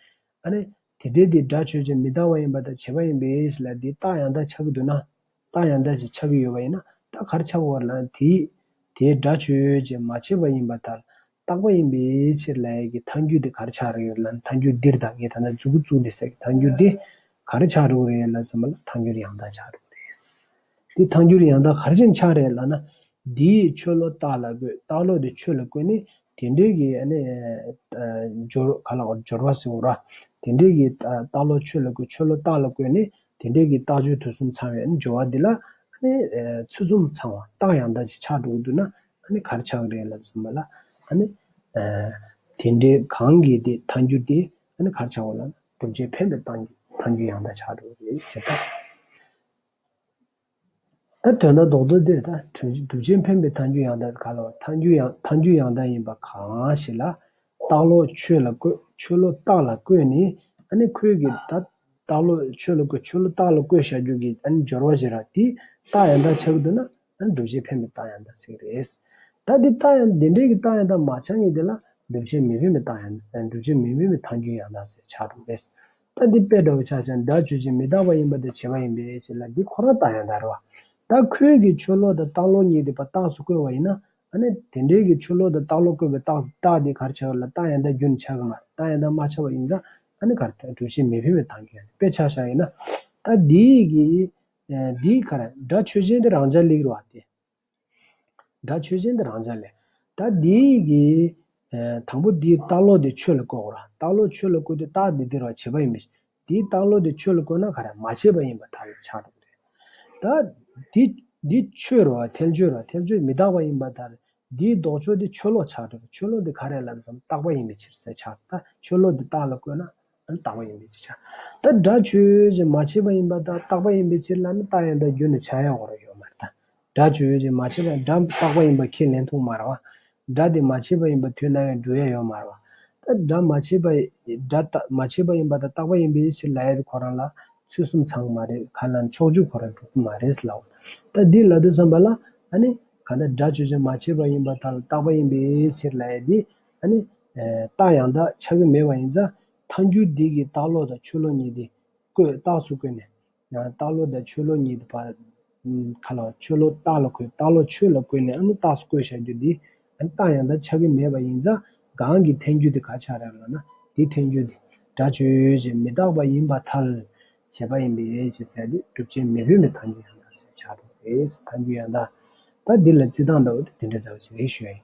ཨ་ནི། དེ་ལྟའི་དེ་སྒྲ་ཆོས་ཅན་མི་རྟག་པ་ཡིན་པ་དང་བྱེད་པ་ཡིན་པས་ལ་དེའི་རྟགས་ཡང་དག་ཆགས་ཀྱི་འདུག་ན། རྟགས་ཡང་དག་ཅིག་ཆགས་ཀྱི་ཡོད་པ་ཡིན་ན་རྟགས་གར་ཆགས་བར་ལ་ནི་དེས། དེའི་སྒྲ་ཆོས་ཅན་མ་བྱས་པ་ཡིན་པ་དག་ལ་རྟག་པ་ཡིན་པའི་ཕྱིར་ལ་ཡ་གི་མཐའ་འགྱུར་དེ་གར་ཆགས་རིགས་ལ་ནི་མཐའ་འགྱུར་འདིར་དང་གི་དང་ན་ཛུ་གུ་ཙུག་འདི་སྲས་ཀྱི་མཐའ་འགྱུར་དེ། གར་ཆགས་རིགས་རེད་ལ་ཟེར་མ་ལ་མཐའ་འགྱུར་ཡང་དག་ཆགས་རིགས་རེད། དེ་ཐང་འགྱུར་ཡང་དག་གར་ཅིག་འཆགས་རེ་ལགས་ན། འདི་ཡིས་ཆོས་བློ་བརྟགས་ལ་དགོས་བརྟགས་ལོག་དེ་ཆོས་ལ་བཀོད་ནས་དེ་འདྲའི་གི་སྦྱོར་བ་ལ་སྦྱོར་བ་ཟེར་རོ། དེ་འདྲའི་གི་བརྟགས་ལོག་ཆོས་ལ་བཀོད་ཆོས་བློ་བརྟགས་ལ་བཀོད་ནས་དེ་འདྲའི་གི་བརྟགས་སྦྱོར་དུས་གསུམ་ཚང་བའི་སྦྱོར་བ་འདི་ལ། ཚུལ་གསུམ་ཚང་བ་བརྟགས་ཡང་དག་ཅིག་འཆགས་འགྲོ་གི་འདུག་ན་གར་འཆགས་རེ་ལགས་ཟེར་བ་ལ། དེ་འདྲའི་གང་གི་དེ་ཐང་འགྱུར་དེ་གར་འཆགས་བ་ལ་བསྒྲུབ་བྱའི་འཕེན་པའི་ཐང་འགྱུར་ཡང་དག་འཆགས་འགྲོ་གི་རེད་ཟེར་ཏེ། ཨ་དོན་ན་ལྡོག་ཏུ་དེ་ལྟ་གྲུབ་ཆེན་ཕན་པའི་མཐའ་འཇུག་ཡང་དག་ག་ལ་བ་མཐའ་འཇུག་ཡང་མཐའ་འཇུག་ཡང་དག་ཡིན་པ་གང་ཞིག་ལ། རྟགས་ལོག་ཆོས་ལ་བཀོད་ཆོས་ལོག་རྟགས་ལ་བཀོད་ནི་ཨ་ནི་ཁོལ་གྱི་ད། རྟགས་ལོག་ཆོས་ལ་བཀོད་ཆོས་ལོག་རྟགས་ལ་བཀོད་བཞག་རྒྱུག་གི་ཨ་ནི་སྦྱོར་བ་ཞིག་ར་དེའི་རྟགས་ཡང་དག་ཆགས་ཀྱི་འདུག་ན་ཨ་ནི་གྲུབ་ཆེན་ཕན་པའི་རྟགས་ཡང་དག་ཟེར་གྱི་རེད། ད་དེ་རྟགས་ཡང་དེ་འདྲའི་གི་རྟགས་ཡང་དག་མ་ཆགས་ངེས་དེ་ལ་གྲུབ་ཆེན་མི་ཕན་པའི་རྟགས་ཡང་གྲུབ་ཆེན་མི་ཕན་པའི་མཐའ་འཇུག་ཡང་དག་ཟེར་ཆགས་འདུག་རེད། ད་འདི་དཔེ་འདྲ་བོ་ཆགས་ཀྱང་སྒྲ་བརྗོད་ཅིང་མི་རྟག་པ་ཡིན་པ་དེ་བྱེད་པ་ཡིན་པས་ཞེས་ལ་འདི་ཁོ་རང་ལྟ་ཡང་འདྲ་རེད་བ། ད་ཁོའི་གི་ཆོས་ལོག་དང་རྟགས་ལོག་གཉིས་དེ་པ་རྟགས་སུ་བཀོད་བ་ཡིན་ན། ཨ་ནི་དེ་འདྲའི་གི་ཆོས་ལོག་དང་རྟགས་ལོག་བཀོད་པའི་རྟགས་རྟགས་དེ་གར་ཆགས་ལ་རྟགས་ཡང་དག་རྒྱུ་ནི་ཆགས་ཀྱི་མ་རེད་རྟགས་ཡང་དག་མ་ཆགས་པ་ཡིན་ཙང་ཨ་ནི་གར་གྲུབ་བྱེད་མི་ཕན་པའི་དང་གི་ཨ་ནི་དཔེ་ཆགས་ཤག་ཡིན་ན། ད་འདིའི་གི། འདིའི་གར་སྒྲ་ཆོས་ཅན་དེ་རང་ཅག་ལིག་རེད་བ་སྟེ། སྒྲ་ཆོས་ཅན་དེ་རང་ཅག་ལས། ད་འདི་ཡི། དང་པོ་འདིའི་རྟགས་བློ་དེ་ཆོས་ལ་བཀོད་གོ། རྟགས་བློ་ཆོས་ལ་བཀོད་དུས་རྟགས་འདི་སྟེར་བར་བྱེད་པ་ཡིན་པས། འདིའི་རྟགས་བློ་དེ་ཆོས་ལ་བཀོད་ན་ག་རེ་མ་བྱས་པ་ཡིན་པ་དག་ཆགས་སྡང་རེད། ད། འདི། འདི་ཆོས་རོ། ཐལ་ཆོས་རོ། ཐལ་ཆོས་མི་རྟག་པ་ཡིན་པ་དག། འདིའི་ལྡོག་ཕྱོགས་འདི་ཆོས་བློ་ཆགས་སྡང་རེད། ཆོས་བློ་འདི་ག་རེ་ལ་ལ་ཙམ་རྟག་པ་ཡིན་པའི་ཕྱིར་ཟད་ཆགས་སྡང། ཆོས་བློ་འདི་རྟགས་ལ་བཀོད་ན། ལ་བཏགས་པ་ཡིན་པའི་ཕྱིར། ད་སྒྲ་ཆོས་ཀྱི་མ་བྱས་པ་ཡིན་པ་དག་བཏགས་པ་ཡིན་པའི་ཕྱིར་ལ་ནི་རྟགས་ཡང་དག་རྒྱུ་ནི་བྱ་ཡང་བར་ཡོད་མ་རྟགས་སྒྲ་ཆོས་ཀྱི་མ་བྱས་པ་སྒྲ་བཏགས་པ་ཡིན་པ་ཁས་ལེན་ཐུག་མར་བ། སྒྲ་དེ་མ་བྱས་པ་ཡིན་པ་དུས་ན་ཡང་འགྲུལ་ཡང་ཡོད་མར་བ། ད་སྒྲ་མ་བྱས་པ་སྒྲ་མ་བྱས་པ་ཡིན་པ་དག་བཏགས་པ་ཡིན་པའི་ཕྱིར་ལ་ཡ་དེ་ཁོ་རང་ལ་ཚུལ་གསུམ་ཚང་མ་རེད་ག་ལ་ནི་ཕྱོགས་བཅུ་ཁོ་རང་གྲུབ་ཀྱི་མ་རེད་ལའོ། ད་འདིར་ལ་དུ་བསམ་པ་ལ། ཨ་ནི། གང་ལྟར་སྒྲ་ཆོས་ཀྱི་མ་བྱས་པ་ཡིན་པ་དག་ལ་བཏགས་པ་ཡིན་པའི་ཕྱིར་ལ་ཡ་དེ། ཨ་ནི། རྟགས་ཡང་དག་ཆགས་ཀྱི་མེད་པ་ཡིན་ཙང། ཐཱན་འགྱུར་འདི་གིས་རྟགས་ལོག་དང་ཆོས་ལོག་གཉིས་དེ། བཀོད། རྟགས་སུ་བཀོད་ནས། རྟགས་ལོག་དང་ཆོས་ལོག་གཉིས་དེ། བར། ཁ་ལོ། ཆོས་ལོག་རྟགས་ལ་བཀོད། རྟགས་ལོག་ཆོས་ལ་བཀོད་ནས་ཨ་ནི་རྟགས་སུ་བཀོད་བྱ་རྒྱུ་འདི། ཨ་ནི་རྟགས་ཡང་དག་ཆགས་ཀྱི་མེད་པ་ཡིན་ཙང། གང་གིས་ཐཱན་འགྱུར་དེ་ག་ཆགས་རབས་ལ་ན། དེའི་ཐཱན་འགྱུར་དེ། སྒྲ་ཆོས་ཀྱི་མི་རྟག་པ་ཡིན་པ་ཐལ། བྱེད་པ་ཡིན་པས་ཅེས་ཟེར་ཏེ། སྒྲུབ་བྱེད་མི་ལྷུན་པའི་ཐཱན་འགྱུར་ཡང་དག་ཞེས་བྱ། ཐཱན་འགྱུར་ཡང་དག། ད་འདི་ལ་རྩིས་སྟངས་འདྲ་བོ་དེ་འདི་འདྲ་འདྲ་བོ་ཞིག་རེ་ཞུ་ཡ་ཡིན།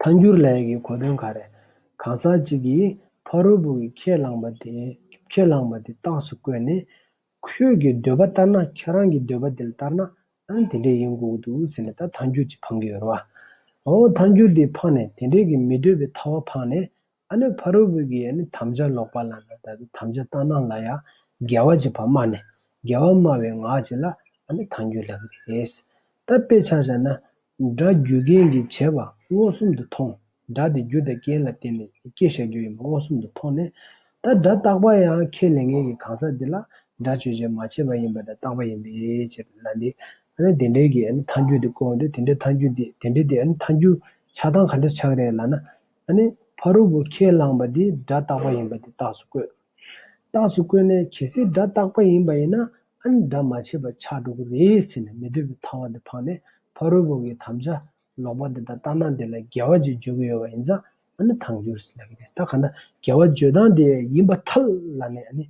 ཐཱན་སྒྱུར་ལས་ཀྱི་གོ་དོན་ག་རེ། གང་ཟག་ཅིག་གིས་ཕ་རོལ་པོ་གི་ཁས་བླངས་པ་དེ་ཁས་བླངས་པ་དེ་རྟགས་སུ་བཀོད་ནས། ཁྱོད་ཀྱི་འདོད་པ་ལྟར་ན་ཁྱོད་རང་གི་འདོད་པ་དེ་ལྟར་ན་ཨང་དེ་འདྲས་ཡིན་དགོས་འདུག་ཟེར་ནས་ད་ཐཱན་སྒྱུར་གྱིས་འཕངས་ཀྱི་ཡོད་རེད་བ། འོ་ཐཱན་སྒྱུར་དེས་འཕངས་ནས་དེ་འདྲས་ཀྱི་མི་འདོད་པའི་ཐ་བ་འཕངས་ནས་ཨ་ནུ་ཕ་རོལ་པོས་ཀྱི་དམ་བཅའ་ལོག་པ་ལ་ན་ད་དུ་དམ་བཅའ་བཏང་ན་ལ་ཡང་རྒྱལ་བ་ཅེས་པ་སྨྲ་ནས་རྒྱལ་བ་སྨྲ་བའི་ངག་ཅིག་ལ་ཨ་ནི་དང་རྒྱུད་ལགས་པས་རེད། ད་དཔེ་ཆ་བཞག་ན། སྒྲ་རྒྱུ་རྐྱེན་གྱིས་བྱས་པ་མངོན་སུམ་དུ་མཐོང། སྒྲ་དེ་རྒྱུ་དང་རྐྱེན་ལ་བརྟེན་ནས་སྐྱེ་བཞག་རྒྱུ་ཡིན་པ་མངོན་སུམ་དུ་མཐོང་ནས། ད་སྒྲ་རྟག་པ་ཡང་ཁས་ལེན་མཁན་གྱི་གང་ཟག་དེ་ལ་སྒྲ་བརྗོད་བྱེད་མ་བྱས་པ་ཡིན་པ་དང་རྟག་པ་ཡིན་པས་ཅེས་པ་ལ་ནི། ཨ་ནི་དེ་འདྲའི་གི་མཐའ་འགྱུར་དེ་བཀོད་འོང་དུས་དེ་འདྲའི་མཐའ་འགྱུར་འདི་དེ་འདྲའི་དེ་མཐའ་འགྱུར་ཆགས་སྟངས་ག་འདྲ་ཆགས་རེད་ལ་ན། ད་ནི་ཕ་རོལ་པོ་ཁས་བླངས་པ་འདི་སྒྲ་རྟག་པ་ཡིན་པ་དེ་རྟགས་སུ་བཀོད། རྟགས་སུ་བཀོད་ནས་གལ་སྲིད་སྒྲ་རྟག་པ་ཡིན་པ་ཡིན་ན་ཨ་ནི་སྒྲ་མ་ཆད་པར་ཆགས་འགྲོ་གི་རེད་ཟེར་ནས་མི་འདོད་པའི་ཐ་བ་དེ་འཕངས་ནས་ཕ་རོལ་པོ་གི་དམ་བཅའ་ལོག་པ་དེ་དང་རྟགས་སྣང་དེ་ལ་འགལ་བ་ཅིག་བརྗོད་ཀྱི་ཡོད་པ་ཡིན་ཙང་ཨ་ནི་ཐང་རྒྱུར་ཟེར་ལབ་ཀྱི་རེད་ད་གང་ལྟར་འགལ་བ་བརྗོད་སྟངས་དེ་ཡིན་པ་ཐལ་ལ་ནས་ཨ་ནི།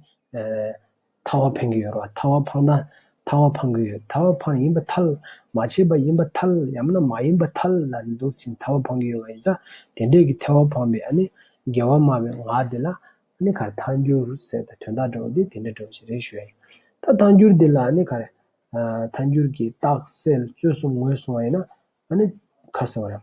ཐ་བ་འཕེན་གྱི་ཡོད་རོ་ཐ་བ་འཕངས་ན་ཐ་བ་འཕངས་གི་ཡོད་ཐ་བ་འཕངས་ཡིན་པ་ཐལ། མ་བྱས་པ་ཡིན་པ་ཐལ་ཡང་ན་མ་ཡིན་པ་ཐལ་ལ་ནི་འདུག་ཅིང་ཐ་བ་འཕངས་གི་ཡོད་པ་ཡིན་ཙང་དེ་འདྲས་ཀྱི་ཐལ་བ་འཕངས་པའི་ཨ་ནི་འགལ་བ་སྨྲ་བའི་ངག་དེ་ལ་ཨ་ནི་གར་ཐལ་འགྱུར་ཟེར་ཏེ་དོན་དག་འདྲ་བ་འདི་དེ་འདྲ་འདྲ་བ་ཞིག་རེད་ཞུ་ཡ་ཡིན། ད་ཐལ་འགྱུར་འདི་ལ་ཨ་ནི་གར་ཐལ་འགྱུར་གྱི་རྟགས་གསལ་རྩོད་གསུམ་ངོས་བཟུང་བ་ཡིན་ན་ཨ་ནི་ག་ཟེར་བ་རེད།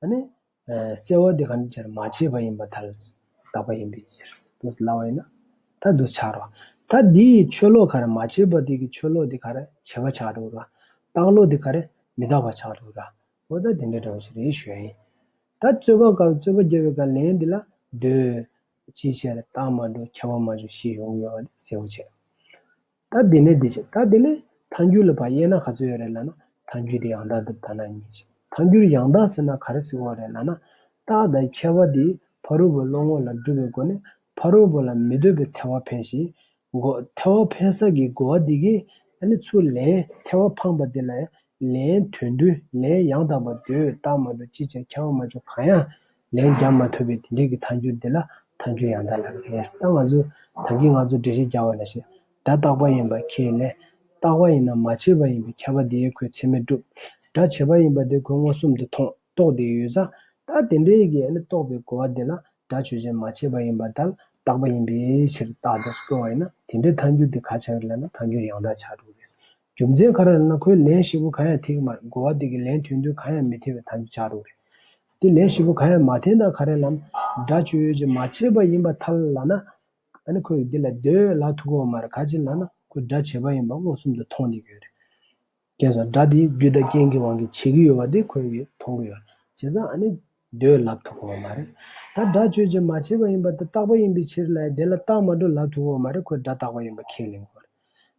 གསལ་བ་དེ་གང་ཅིའི་ཕྱིར་མ་བྱས་པ་ཡིན་པར་ཐལ། བདག་པ་ཡིན་པའི་ཕྱིར། དུ་སླ་བ་ཡིན་ན། ད་དུ་བྱར་རོ། ད་འདི་ཡི་ཆོས་ལོག་ག་རེ་མ་བྱས་པ་དེ་གི་ཆོས་ལོག་དེ་ག་རེ་བྱས་པ་ཆགས་འགྲོ་ར། རྟགས་ལོག་དེ་ག་རེ་མི་རྟག་པ་ཆགས་འགྲོ་ར། འོ་ད་དེ་འདྲ་འདྲ་བ་ཞིག་རེད་ཞུ་ཡ་ཡིན། ད་རྩོད་པ་ག་རྩོད་པ་རྒྱལ་བའི་ག་ལན་འདི་ལ་ཟློས། ཅིའི་ཕྱིར་རྟགས་མ་འགྲོ་ཁྱབ་པ་མ་བྱུང་ཤེས་ཡོང་གི་ཡོད་པ་དེ་གསལ་བོ་བྱས། ད་དེ་ནས་དེ་བྱེད་ད་དེ་ནས་ཐཱན་འགྱུར་ལ་བ་དབྱེ་ན་ག་ཚོད་ཡོད་རེད་ལ་ན་ཐཱན་འགྱུར་དེ་ཡང་དག་འདི་ད་ན་གཉིས་བྱེད་ཐཱན་འགྱུར་ཡང་དག་ཟེར་ན་ག་རེ་ཟེར་བ་རེད་ལ་ན། རྟགས་དང་ཁྱད་པར་དེ་ཕ་རོལ་པོའི་བློ་ངོ་ལ་སྒྲུབ་པའི་སྒོ་ནས་ཕ་རོལ་པོ་ལ་མི་ལྟོས་པའི་ཐལ་བ་འཕེན་ཞིང། གོ་ཐལ་བ་འཕེན་ས་ཀྱི་གོ་བ་དེ་གས་ནི་ཚུར་ལན་ཐལ་བ་འཕངས་པ་དེ་ལ་ལན་དོན་བསྡུ་ལན་ཡང་དག་པར་ཟློས་བཏགས་མ་གཏོགས་ཅི་བྱས་ཁྱང་མ་བྱུང་གང་ཡང་ལན་རྒྱག་མ་ཐུབ་པའི་དེ་འབྲེལ་གྱི་མཐའ་འགྱུར་འདི་ལ་མཐའ་འགྱུར་ཡང་དག་ལ་རེས་ད་ང་ཚོས་ད་གིས་ང་ཚོ་འགྲེལ་བཤད་རྒྱག་བ་ལ་ཞེས་སྒྲ་རྟག་པ་ཡིན་པ་ཁས་ལེན། རྟག་པ་ཡིན་ན་མ་བྱས་པ་ཡིན་པའི་ཁྱབ་པ་དེའི་ཁོའི་ཚད་མས་གྲུབ། སྒྲ་བྱས་པ་ཡིན་པ་དེ་ཁོའི་མངོན་སུམ་དུ་མཐོང་རྟོགས་དེ་ཡོད་ཙང་ད་དེ་འབྲེལ་གྱི་རྟོགས་པའི་གོ་བ་དེ་ལ་སྒྲ་ཆོས་ཅན་མ་བྱས་པ་ཡིན་པ་ད་ལ་རྟག་པ་ཡིན་པའི་ཕྱིར་རྟག་ཏུ་སྐྱོང་བ་ཡིན་ན་དེ་འབྲེལ་མཐའ་འགྱུར་དེ་ག་ཆགས་རེད་ལབ་ན་མཐའ་འགྱུར་ཡང་དག་ཆགས་འགྲོ་གི་རེད། རྒྱུ་མཚན་ག་རང་ཡིན་ན་ཁོའི་ལན་ཧྲིལ་པོ་གང་ཡང་ཐེག་གི་མ་རེད་གོ་བ་དེ་གི་ལན་དོན་དུ་གང་ཡང་མི་ཐེག་པའི་ཐང་ཆག་རོགས་རེད། དེ་ལན་ཧྲིལ་པོ་གང་ཡང་མ་ཐེག་ན་ག་རེ་ལམ་འདྲ་ཆོས་ཡོད་ཅིག་མ་བྱས་པ་ཡིན་པ་ཐལ་ལ་ན། ད་ནི་ཁོས་འདི་ལ་སྡོད་ལ་ཐུག་གོ་མ་རེད་ག་ཅིག་ལ་ན་ཁོས་འདྲ་བྱས་པ་ཡིན་པ་མངོན་སུམ་དུ་མཐོང་འདི་གི་ཡོད་རེད། རྐྱེན་སོགས་འདྲ་དེ་རྒྱུ་དང་རྐྱེན་གི་དབང་གིས་བྱས་གི་ཡོད་པ་དེ་ཁོས་གི་མཐོང་གི་ཡོད་རེད་བྱས་ཙང་ཨ་ནི་སྡོད་ལབ་ཐུག་གོ་མ་རེད། ད་འདྲ་ཆོས་ཅིག་མ་བྱས་པ་ཡིན་པ་དེ་རྟག་པ་ཡིན་པའི་ཕྱིར་ལ་ཡ་དེ་ལ་རྟག་མ་འགྲོ་ལབ་ཐུག་གོ་མ་རེད་ཁོས་འདྲ་རྟག་པ་ཡིན་པ་ཁས་ལེན་གོ་རེད།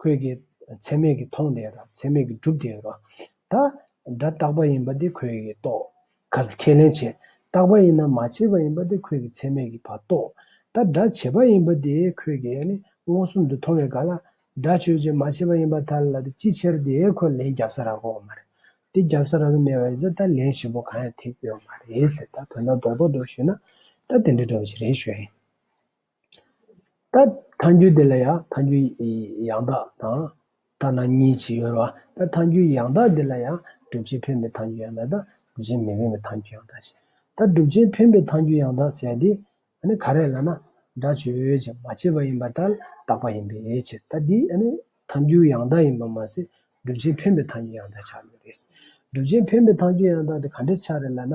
ཁོས་ཀྱི། ཚད་མེད་ཀྱི་མཐོང་བདེ་དང་ཚད་མེད་ཀྱི་སྒྲུབ་བདེ་བ། ད། སྒྲ་རྟག་པ་ཡིན་པ་དེ་ཁོས་ཀྱི་རྟོགས། ག་ཟེ་ཁས་ལེན་བྱེད། རྟག་པ་ཡིན་ན་མ་བྱས་པ་ཡིན་པ་དེ་ཁོས་ཀྱི་ཚད་མེད་ཀྱི་བ་རྟོགས། ད་སྒྲ་བྱས་པ་ཡིན་པ་དེ་ཁོས་ཀྱི་ནི་མངོན་སུམ་དུ་མཐོང་བའི་ག་ལ། སྒྲ་ཆོས་ཅན་མ་བྱས་པ་ཡིན་པ་ད་ལ་དེ་ཅི་ཕྱིར་དེ་ཁོས་ལན་རྒྱབ་ས་རག་གོ་མ་རེད། དེ་རྒྱབ་ས་རག་གི་མེད་པ་ཡིན་ཚེ་ད་ལན་ཞིབ་པོ་གང་ཡང་ཐེག་ཡོད་མ་རེད་ཟེར་ད་དོན་དག་རྡོག་རྡོག་རྡོག་ཞུས་ན། ད་དེ་འདྲའི་འདྲ་བ་ཞིག་རེད་ཤོད་ཨེ། ད་མཐའ་འགྱུར་དེ་ལ་ཡང་མཐའ་འགྱུར་ཡང་དག་དང། ཐ་ན་གཉིས་ཀྱིས་དབྱེ་བ། ད་མཐའ་འགྱུར་ཡང་དག་དེ་ལ་ཡང་སྒྲུབ་བྱེད་འཕེན་པའི་མཐའ་འགྱུར་ཡང་དག་དང་སྒྲུབ་བྱེད་མི་འཕེན་པའི་མཐའ་འགྱུར་ཡང་དག་ཞེས་ད་སྒྲུབ་བྱེད་འཕེན་པའི་མཐའ་འགྱུར་ཡང་དག་ཟེར་ཏེ། ནི་ག་རེ་ལ་ན། སྒྲ་བརྗོད་བྱས་མ་བྱས་པ་ཡིན་པ་ལྟར་བཏགས་པ་ཡིན་པའི་ཕྱིར་ད་འདི་ནི་མཐའ་འགྱུར་ཡང་དག་ཡིན་པར་མ་ཟད་སྒྲུབ་བྱེད་འཕེན་པའི་མཐའ་འགྱུར་ཡང་དག་ཆགས་ཡོད་པས། སྒྲུབ་བྱེད་འཕེན་པའི་མཐའ་འགྱུར་ཡང་དག་དེ་ག་འདྲའི་ཆ་རེ་ལ་ན།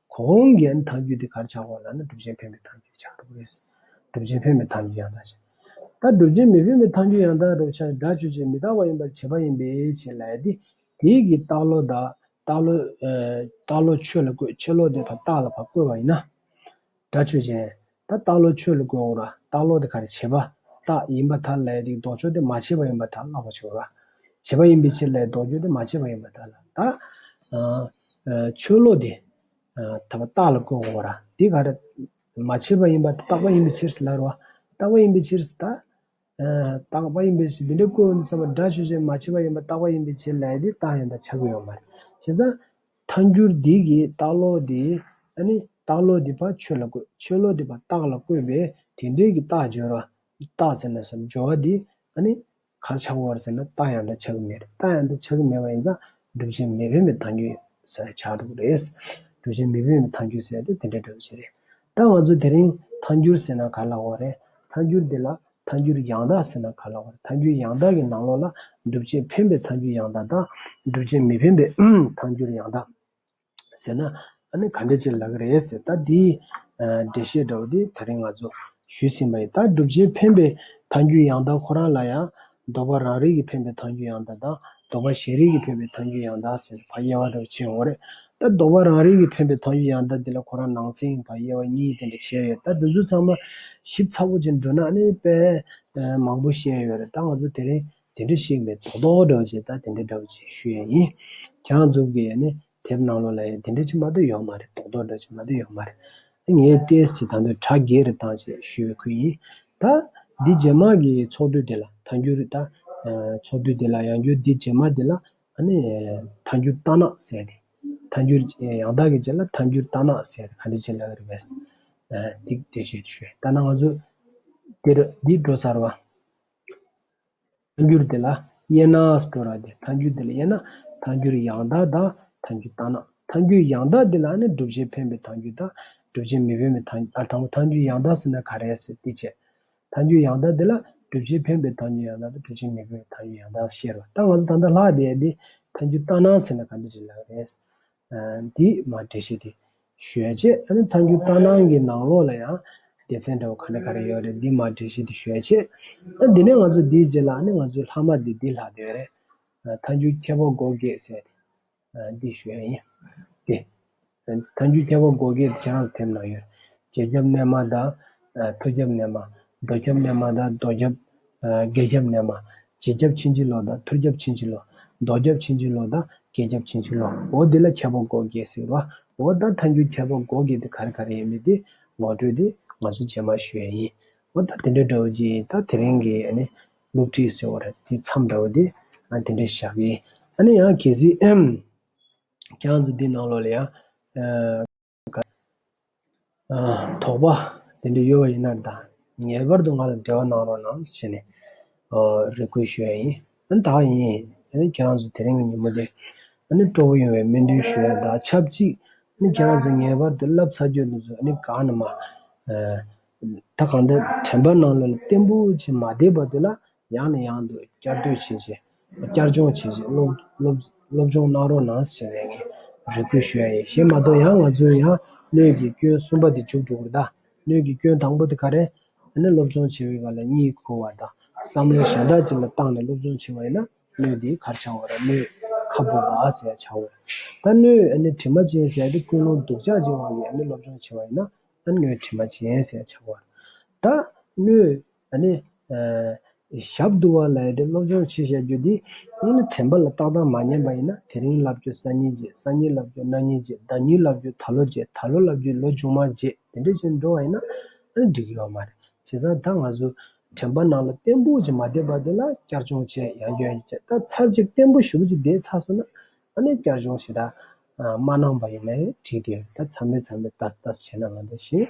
གོང་གི་ནི་ཐང་རྒྱུད་དེ་གར་ཆགས་གོང་ལ་ནི་གྲུབ་ཆེན་ཕན་པའི་ཐང་རྒྱུད་ཆགས་འགྲོ་གི་རེད། གྲུབ་ཆེན་ཕན་པའི་ཐང་རྒྱུད་ཡང་དག་ཆགས། ད་གྲུབ་ཆེན་མི་ཕན་པའི་ཐང་རྒྱུད་ཡང་དག་རུ་ཆགས་སྒྲ་ཆོས་ཅན་མི་རྟག་པ་ཡིན་པར་བྱེད་པ་ཡིན་པས་ཆེ་ལ་ཡ། དེ་ཡི་གི་རྟགས་ལོ་དག་རྟགས་ལོ། རྟགས་ལོ་ཆོས་ལ་བཀོད་ཆེ་ལོ་དེ་བར་རྟགས་ལ་བར་བཀོད་པ་ཡིན་ན། སྒྲ་ཆོས་ཅན། ད་སྟག་ལོ་ཁྱོད་ལ་བཀོད་འོང་ར་སྟག་ལོ་དེ་ག་རེ་བྱེད་པ་སྟག་ཡིན་པ་དག་ལས་དེའི་ལྡོག་ཕྱོགས་དེ་མ་བྱས་པ་ཡིན་པ་དག་བཀླག་པར་བྱའོ། ར་བྱེད་པ་ཡིན་པའི་ཕྱིར་ལས་ལྡོག་ཕྱོགས་དེ་མ་བྱས་པ་ཡིན་པ་དག་ལ་ད། ཁྱོད་ལོ་དེ་ད་བ་སྟག་ལ་བཀོད་འོང་ར་དེ་ག་རེ། མ་བྱས་པ་ཡིན་པ་སྟག་པ་ཡིན་པའི་ཕྱིར་སླར་བ་སྟག་པ་ཡིན་པའི་ཕྱིར་ད། རྟག་པ་ཡིན་པའི་ཕྱིར་དེ་འདྲའི་སྐུ་ཡོན་ཚང་བ་སྒྲ་ཆོས་ཅན་མ་མཆིས་པ་ཡིན་པ་རྟག་པ་ཡིན་པའི་ཕྱིར་ལས་དེ་རྟགས་ཡོན་དང་ཆ་གོ་ཡོང་མར། བྱས་ཙང། མཐའ་འགྱུར་འདི་གིས་རྟགས་བློ་དེ། ཨ་ནི། རྟགས་བློ་དེ་བར་ཆོས་ལ་བཀོད་ཆོས་བློ་དེ་བར་རྟགས་ལ་བཀོད་པས་དེ་འབྲེལ་གྱི་རྟགས་སྦྱོར་བ། རྟགས་ཟེར་ན་སོ་སྦྱོར་བ་དེ། ཨ་ནི། གར་ཆག་གོ་བར་ཟེར་ན་རྟགས་ཡང་དང་ཆ་གི་མེད་རྟགས་ཡང་དང་ཆ་གི་མེད་པ་ཡིན་ཙང། སྒྲུབ་བྱེད་མི་དབེན་པའི་མཐའ་འགྱུར། ས་ཆག་སྒྲུབ་རེད། སྒྲུབ་བྱེད་མི་དབེན་པའི་མཐའ་འགྱུར་ཟེར་ཏེ་དེ་འདྲའི་སྒྲུབ་བྱེད་རེད། ད་ང་ཚོ་དེ་རིང་ཐཱན་འགྱུར་ཟེར་ན་ག་ལ་འོ་རེད། ཐཱན་འགྱུར་འདི་ལ་ཐཱན་འགྱུར་ཡང་དག་ཟེར་ན་ག་ལ་འོ་རེད། ཐཱན་འགྱུར་ཡང་དག་གི་ནང་ལོགས་ལ་སྒྲུབ་བྱེད་འཕེན་པའི་ཐཱན་འགྱུར་ཡང་དག་དང། སྒྲུབ་བྱེད་མི་འཕེན་པའི་ཐཱན་འགྱུར་ཡང་དག་ཟེར་ན་ཨ་ནི་ག་འདྲ་བྱེད་ལ་གི་རེད་ཟེར་ད་དེའི་འགྲེལ་བཤད་འདྲ་བོ་དེ་ད་རིང་ང་ཚོ་ཞུས་ཟིན་པ་ཡིན་ད་སྒྲུབ་བྱེད་འཕེན་པའི་ཐཱན་འགྱུར་ཡང་དག་ཁོ་རང་ལ་ཡང་འདོད་པ་རང་རིག་གིས་འཕེན་པའི་མཐའ་འགྱུར་ཡང་དག་དང། འདོད་པ་གཞན་རིག་གིས་འཕེན་པའི་མཐའ་འགྱུར་ཡང་དག་ཟེར་བག་ཡེར་བ་དེ་བ་ཆེན་ཧོ་རེད། ད་འདོད་པ་རང་རིག་གིས་འཕེན་པའི་མཐའ་འགྱུར་ཡང་དག་འདི་ལ་ཁོ་རང་ནང་ཚན་བག་ཡེར་བ་གཉིས་དེ་འདྲ་བྱས་ཡོད་ད་དེ་ཚོ་ཚང་མ་ཞིབ་ཚགས་པོ་བྱེད་འགྲོ་ན་ནི་དཔེ་མང་པོ་བཤད་ཡོད་རེད་ད་ང་ཚོ་དེ་རིང་དེ་འདྲ་ཞིག་མེད་དོག་དོག་འདྲ་བ་བྱེད་ད་དེ་འདྲ་འདྲ་བ་བྱེད་ཞུ་ཡས་ཡིན། རྒྱང་འཛུགས་ཀྱི་ནི་དེབ་ནང་ལོག་ལ་ཡང་དེ་འདྲ་ཅིག་མ་དོད་ཡོང་མ་རེད་རྡོག་རྡོག་འདྲ་ཅིག་མ་དོད་ཡོང་མ་རེད། ངས་ལྟས་ཅི་དང་དོན་དྲ་རྒྱའི་རི་ཐང་ཅེས་ཞུ་བའི་ཁུལ་ཡིན། ད། འདི་རྗེས་མ་གི་ཚོགས་འདུ་དེ་ལ་ཐང་རྒྱུ་རེད་ད། ཚོགས་འདུ་དེ་ལ་ཡང་རྒྱུ་འདི་རྗེས་མ་དེ་ལ་ཨ་ནི། ཐང་རྒྱུ་རྟ་ནག་ཟེར་ཏེ། ཐང་རྒྱུ། ཡང་དག་གི་རྗེས་ལ་ཐང་རྒྱུ་རྟ་ནག་ཟེར་ཏེ་ག་འདྲ་ཅིག་ལབ་པ་རེད་བས། འདི་འདྲ་ཞིག་ཞུས། ལྟ་ན་ང་ཚོ། འདིར་འདི་འགྲོ་ཚར་བ། ཐཱན་འགྱུར་དེ་ལ་དབྱེ་ན། སྟོད་ར་དེ་ཐཱན་འགྱུར་དེ་ལ་དབྱེ་ན། ཐཱན་འགྱུར་ཡང་དག་དང་ཐཱན་འགྱུར་བཏང་ན། ཐཱན་འགྱུར་ཡང་དག་དེ་ལ་ནི་བསྒྲུབ་བྱའི་འཕེན་པའི་ཐཱན་འགྱུར་དང། བསྒྲུབ་བྱའི་མི་འཕེན་པའི་ཐཱན། ཨ་དང་པོ་ཐཱན་འགྱུར་ཡང་དག་ཟེར་ན་ག་རེ་ཟེར་ཏེ་དཔྱད། ཐཱན་འགྱུར་ཡང་དག་དེ་ལ་བསྒྲུབ་བྱའི་འཕེན་པའི་ཐཱན་འགྱུར་ཡང་དག་དང་བསྒྲུབ་བྱའི་མི་འཕེན་པའི་ཐཱན་འགྱུར་ཡང་དག་ཤེས་རོགས་ད་ང་ཚོ་ད་ལྟ་ལྷག་བསྡད་དེ་ཐཱན་འགྱུར་བཏང་ན་ཟེར་ན་ག་འདྲ་བྱེད་ལགས་རེད། འདིས་མ་འདྲེས་ཤིག་དེ། ཞོལ་ཆས་ཨ་ནི་མཐའ་འགྱུར་རྟ་ནང་གི་ནང་ལོགས་ལ་ཡང། སྡེ་ཚན་འདྲ་བོ་ག་རེ་ག་རེ་ཡོད་རེད་འདིས་མ་འདྲེས་ཤིག་དེ་ཞོལ་ཆས། ཨ་འདི་ནས་ང་ཚོ་འདིའི་རྗེས་ལ་ཨ་ནི་ང་ཚོའི་ལྷག་མ་འདི་འདིས་ལྷག་འདོད་རེད། མཐའ་འགྱུར་ཁྱད་པར་འགོག་དགོས་ཟེར་ཏེ། འདི་ཞོལ་ཡིན། དེ། མཐའ་འགྱུར་ཁྱད་པར་འགོག་དགོས་དེ་ཁྱེད་རང་ཚོ་དེབ་ནང་ཡོད། རྗེས་རྒྱབ་རྣལ་མ་དང། མཐོ་རྒྱབ་རྣལ་མ། རྡོ་ཁྱབ་རྣལ་མ་དང་རྡོ་ཁྱབ། རྒྱ་ཁྱབ་རྣལ་མ། རྗེ་ཁྱབ་ཕྱིན་ཅི་ལོག་དང་ཐུར་ཁྱབ་ཕྱིན་ཅི་ལོག། རྡོ་ཁྱབ་ཕྱིན་ཅི་ལོག་དང་རྒྱ་ཁྱབ་ཕྱིན་ཅི་ལོག་འོ་འདི་ལ་ཁྱད་པར་སྒོ་འགེགས་ཟེར་བ། འོ་ད་མཐའ་འགྱུར་ཁྱད་པར་སྒོ་འགེགས་དེ་ག་རེ་ག་རེ་ཡིན་མི་དེ་ངོ་སྤྲོད་དེ་ང་ཚོ་རྗེས་མར་ཞུ་ཡས་ཡིན། འོ་ད་དེ་འདྲ་འདྲ་བོ་ཅིག་ད་དེ་རིང་གི་ཨ་ནི་སློབ་ཁྲིད་ཟེར་བ་ར་དེ་མཚམས་འདྲ་བོ་དེ་ཨ་དེ་འདྲ་བཞག་གི་ཨ་ནི་ཡང་གལ་སྲིད། ཁྱེད་རང་ཚོ་འདི་ནང་ལོགས་ལ་ཡང། དོགས་པ་དེ་འདྲ་ཡོད་པ་ཡིན་ན་ད་ངེས་པར་དུ་ང་ལ་འབྲེལ་བ་གནང་རོགས་གནང་ཞེས་ནས་རེ་སྐུལ་ཞུ་བ་ཡིན། ད་ད་ཡིན་ཁྱེད་རང་ཚོ་དེ་རིང་གི་ཉིན་མོ་འདི་སྤྲོ་བོ་ཡོང་བའི་སྨོན་འདུན་ཞུ་ཡ་ད་ཆབས་ཅིག་ཁྱེད་རང་ཚོ་ངེས་པར་དུ་བསླབ་ཚར་རྒྱུ་དེ་ཚོ་གང་ནས་མ་ད་གང་འདྲ་དྲན་པ་གནང་ལོ་ལ་བརྟན་པོ་ཆེ་མ་བསྡད་པ་དེ་ལ་ཡང་ནས་ཡང་དུ་བསྐྱར་ཟློས་བྱས་རྗེས། བསྐྱར་སྦྱོང་བྱས་རྗེས་སློབ་སྦྱོང་གནང་རོགས་གནང་ཟེར་བས་ངས་རེ་སྐུལ་ཞུ་ཡ་ཡིན་ཞེས་མ་གཏོགས་ཡང་ང་ཚོའི་ཡང་སྣོད་ཀྱི་སྐྱོན་གསུམ་པ་དེ་བྱུག་འགྲོ་གི་གདའ། སྣོད་ཀྱི་སྐྱོན་དང་པོ་དེ་ག་རེད། ཨ་ནི་སློབ་སྦྱོང་བྱེད་པའི་བར་ལ་གཉིད་ཁུག་བ་དང་བསམ་བློ་གཞན་དག་ཅིག་ལ་བཏང་ནས་སློབ་སྦྱོང་བྱེད་པ་ཡིན་ན་སྣོད་དེ་གར་ཆག་འོ་ར་སྣོད་ཁ་སྦུབ་བ་ཟེར་ཡ་ཆག་འོས། ད་སྣོད་ཨ་ནི་དྲི་མ་ཅན་ཟེར་ཏེ་ཀུན་སློང་སྡུག་ཅག་ཅིག་བང་གིས་ཨ་ནི་སློབ་སྦྱོང་བྱེད་པ་ཡིན་ན་ཨ་ནི་སྣོད་དྲི་མ་ཅན་ཟེར་ཡ་ཆག་འོ་ར། ད་སྣོད། ཞབས་བསྡུ་བ་ལས་དེ་སློབ་སྦྱོང་ཕྱིར་བྱ་རྒྱུ་དེ། དྲན་པ་ལ་རྟག་རྟག་མ་ཉམས་པ་ཡིན་ན་དེ་རིང་བསླབ་རྒྱུ་སང་ཉིན་རྗེས་སང་ཉིན་བསླབ་རྒྱུ་གནངས་ཉིན་རྗེས་ཟླ་གཉིས་བསླབ་རྒྱུ་ད་ལོ་རྗེས་ད་ལོ་བསླབ་རྒྱུ་ལོ་ཆུང་མ་རྗེས་དེ་འདྲའི་བྱས་འགྲོ་བ་ཡིན་ན་ཨང་འགྲིག་ཡོད་མ་རེད། བྱས་ཙང་ད་ང་ཚོས་དྲན་པ་ནང་ལ་བརྟན་པོ་ཞིག་མ་བསྡད་པ་དེ་ལ་བསྐྱར་སྦྱོང་བྱས་ཡང་ཡོད་ཡིན་ཀྱང་ད་ཚར་གཅིག་བརྟན་པོ་ཞུགས་རྗེས་དེའི་ཚགས་སོ་ན་ཨ་ནེ་བསྐྱར་སྦྱོང་ཞེ་དྲག་མ་གནང་པ་ཡིན་ན་ཡང་འགྲིག་གི་རེད་ད་ཚར་མེད་ཚར་མེད་ལྟ་ལྟ་བྱས་ན་ང་ཚོ་ཞེས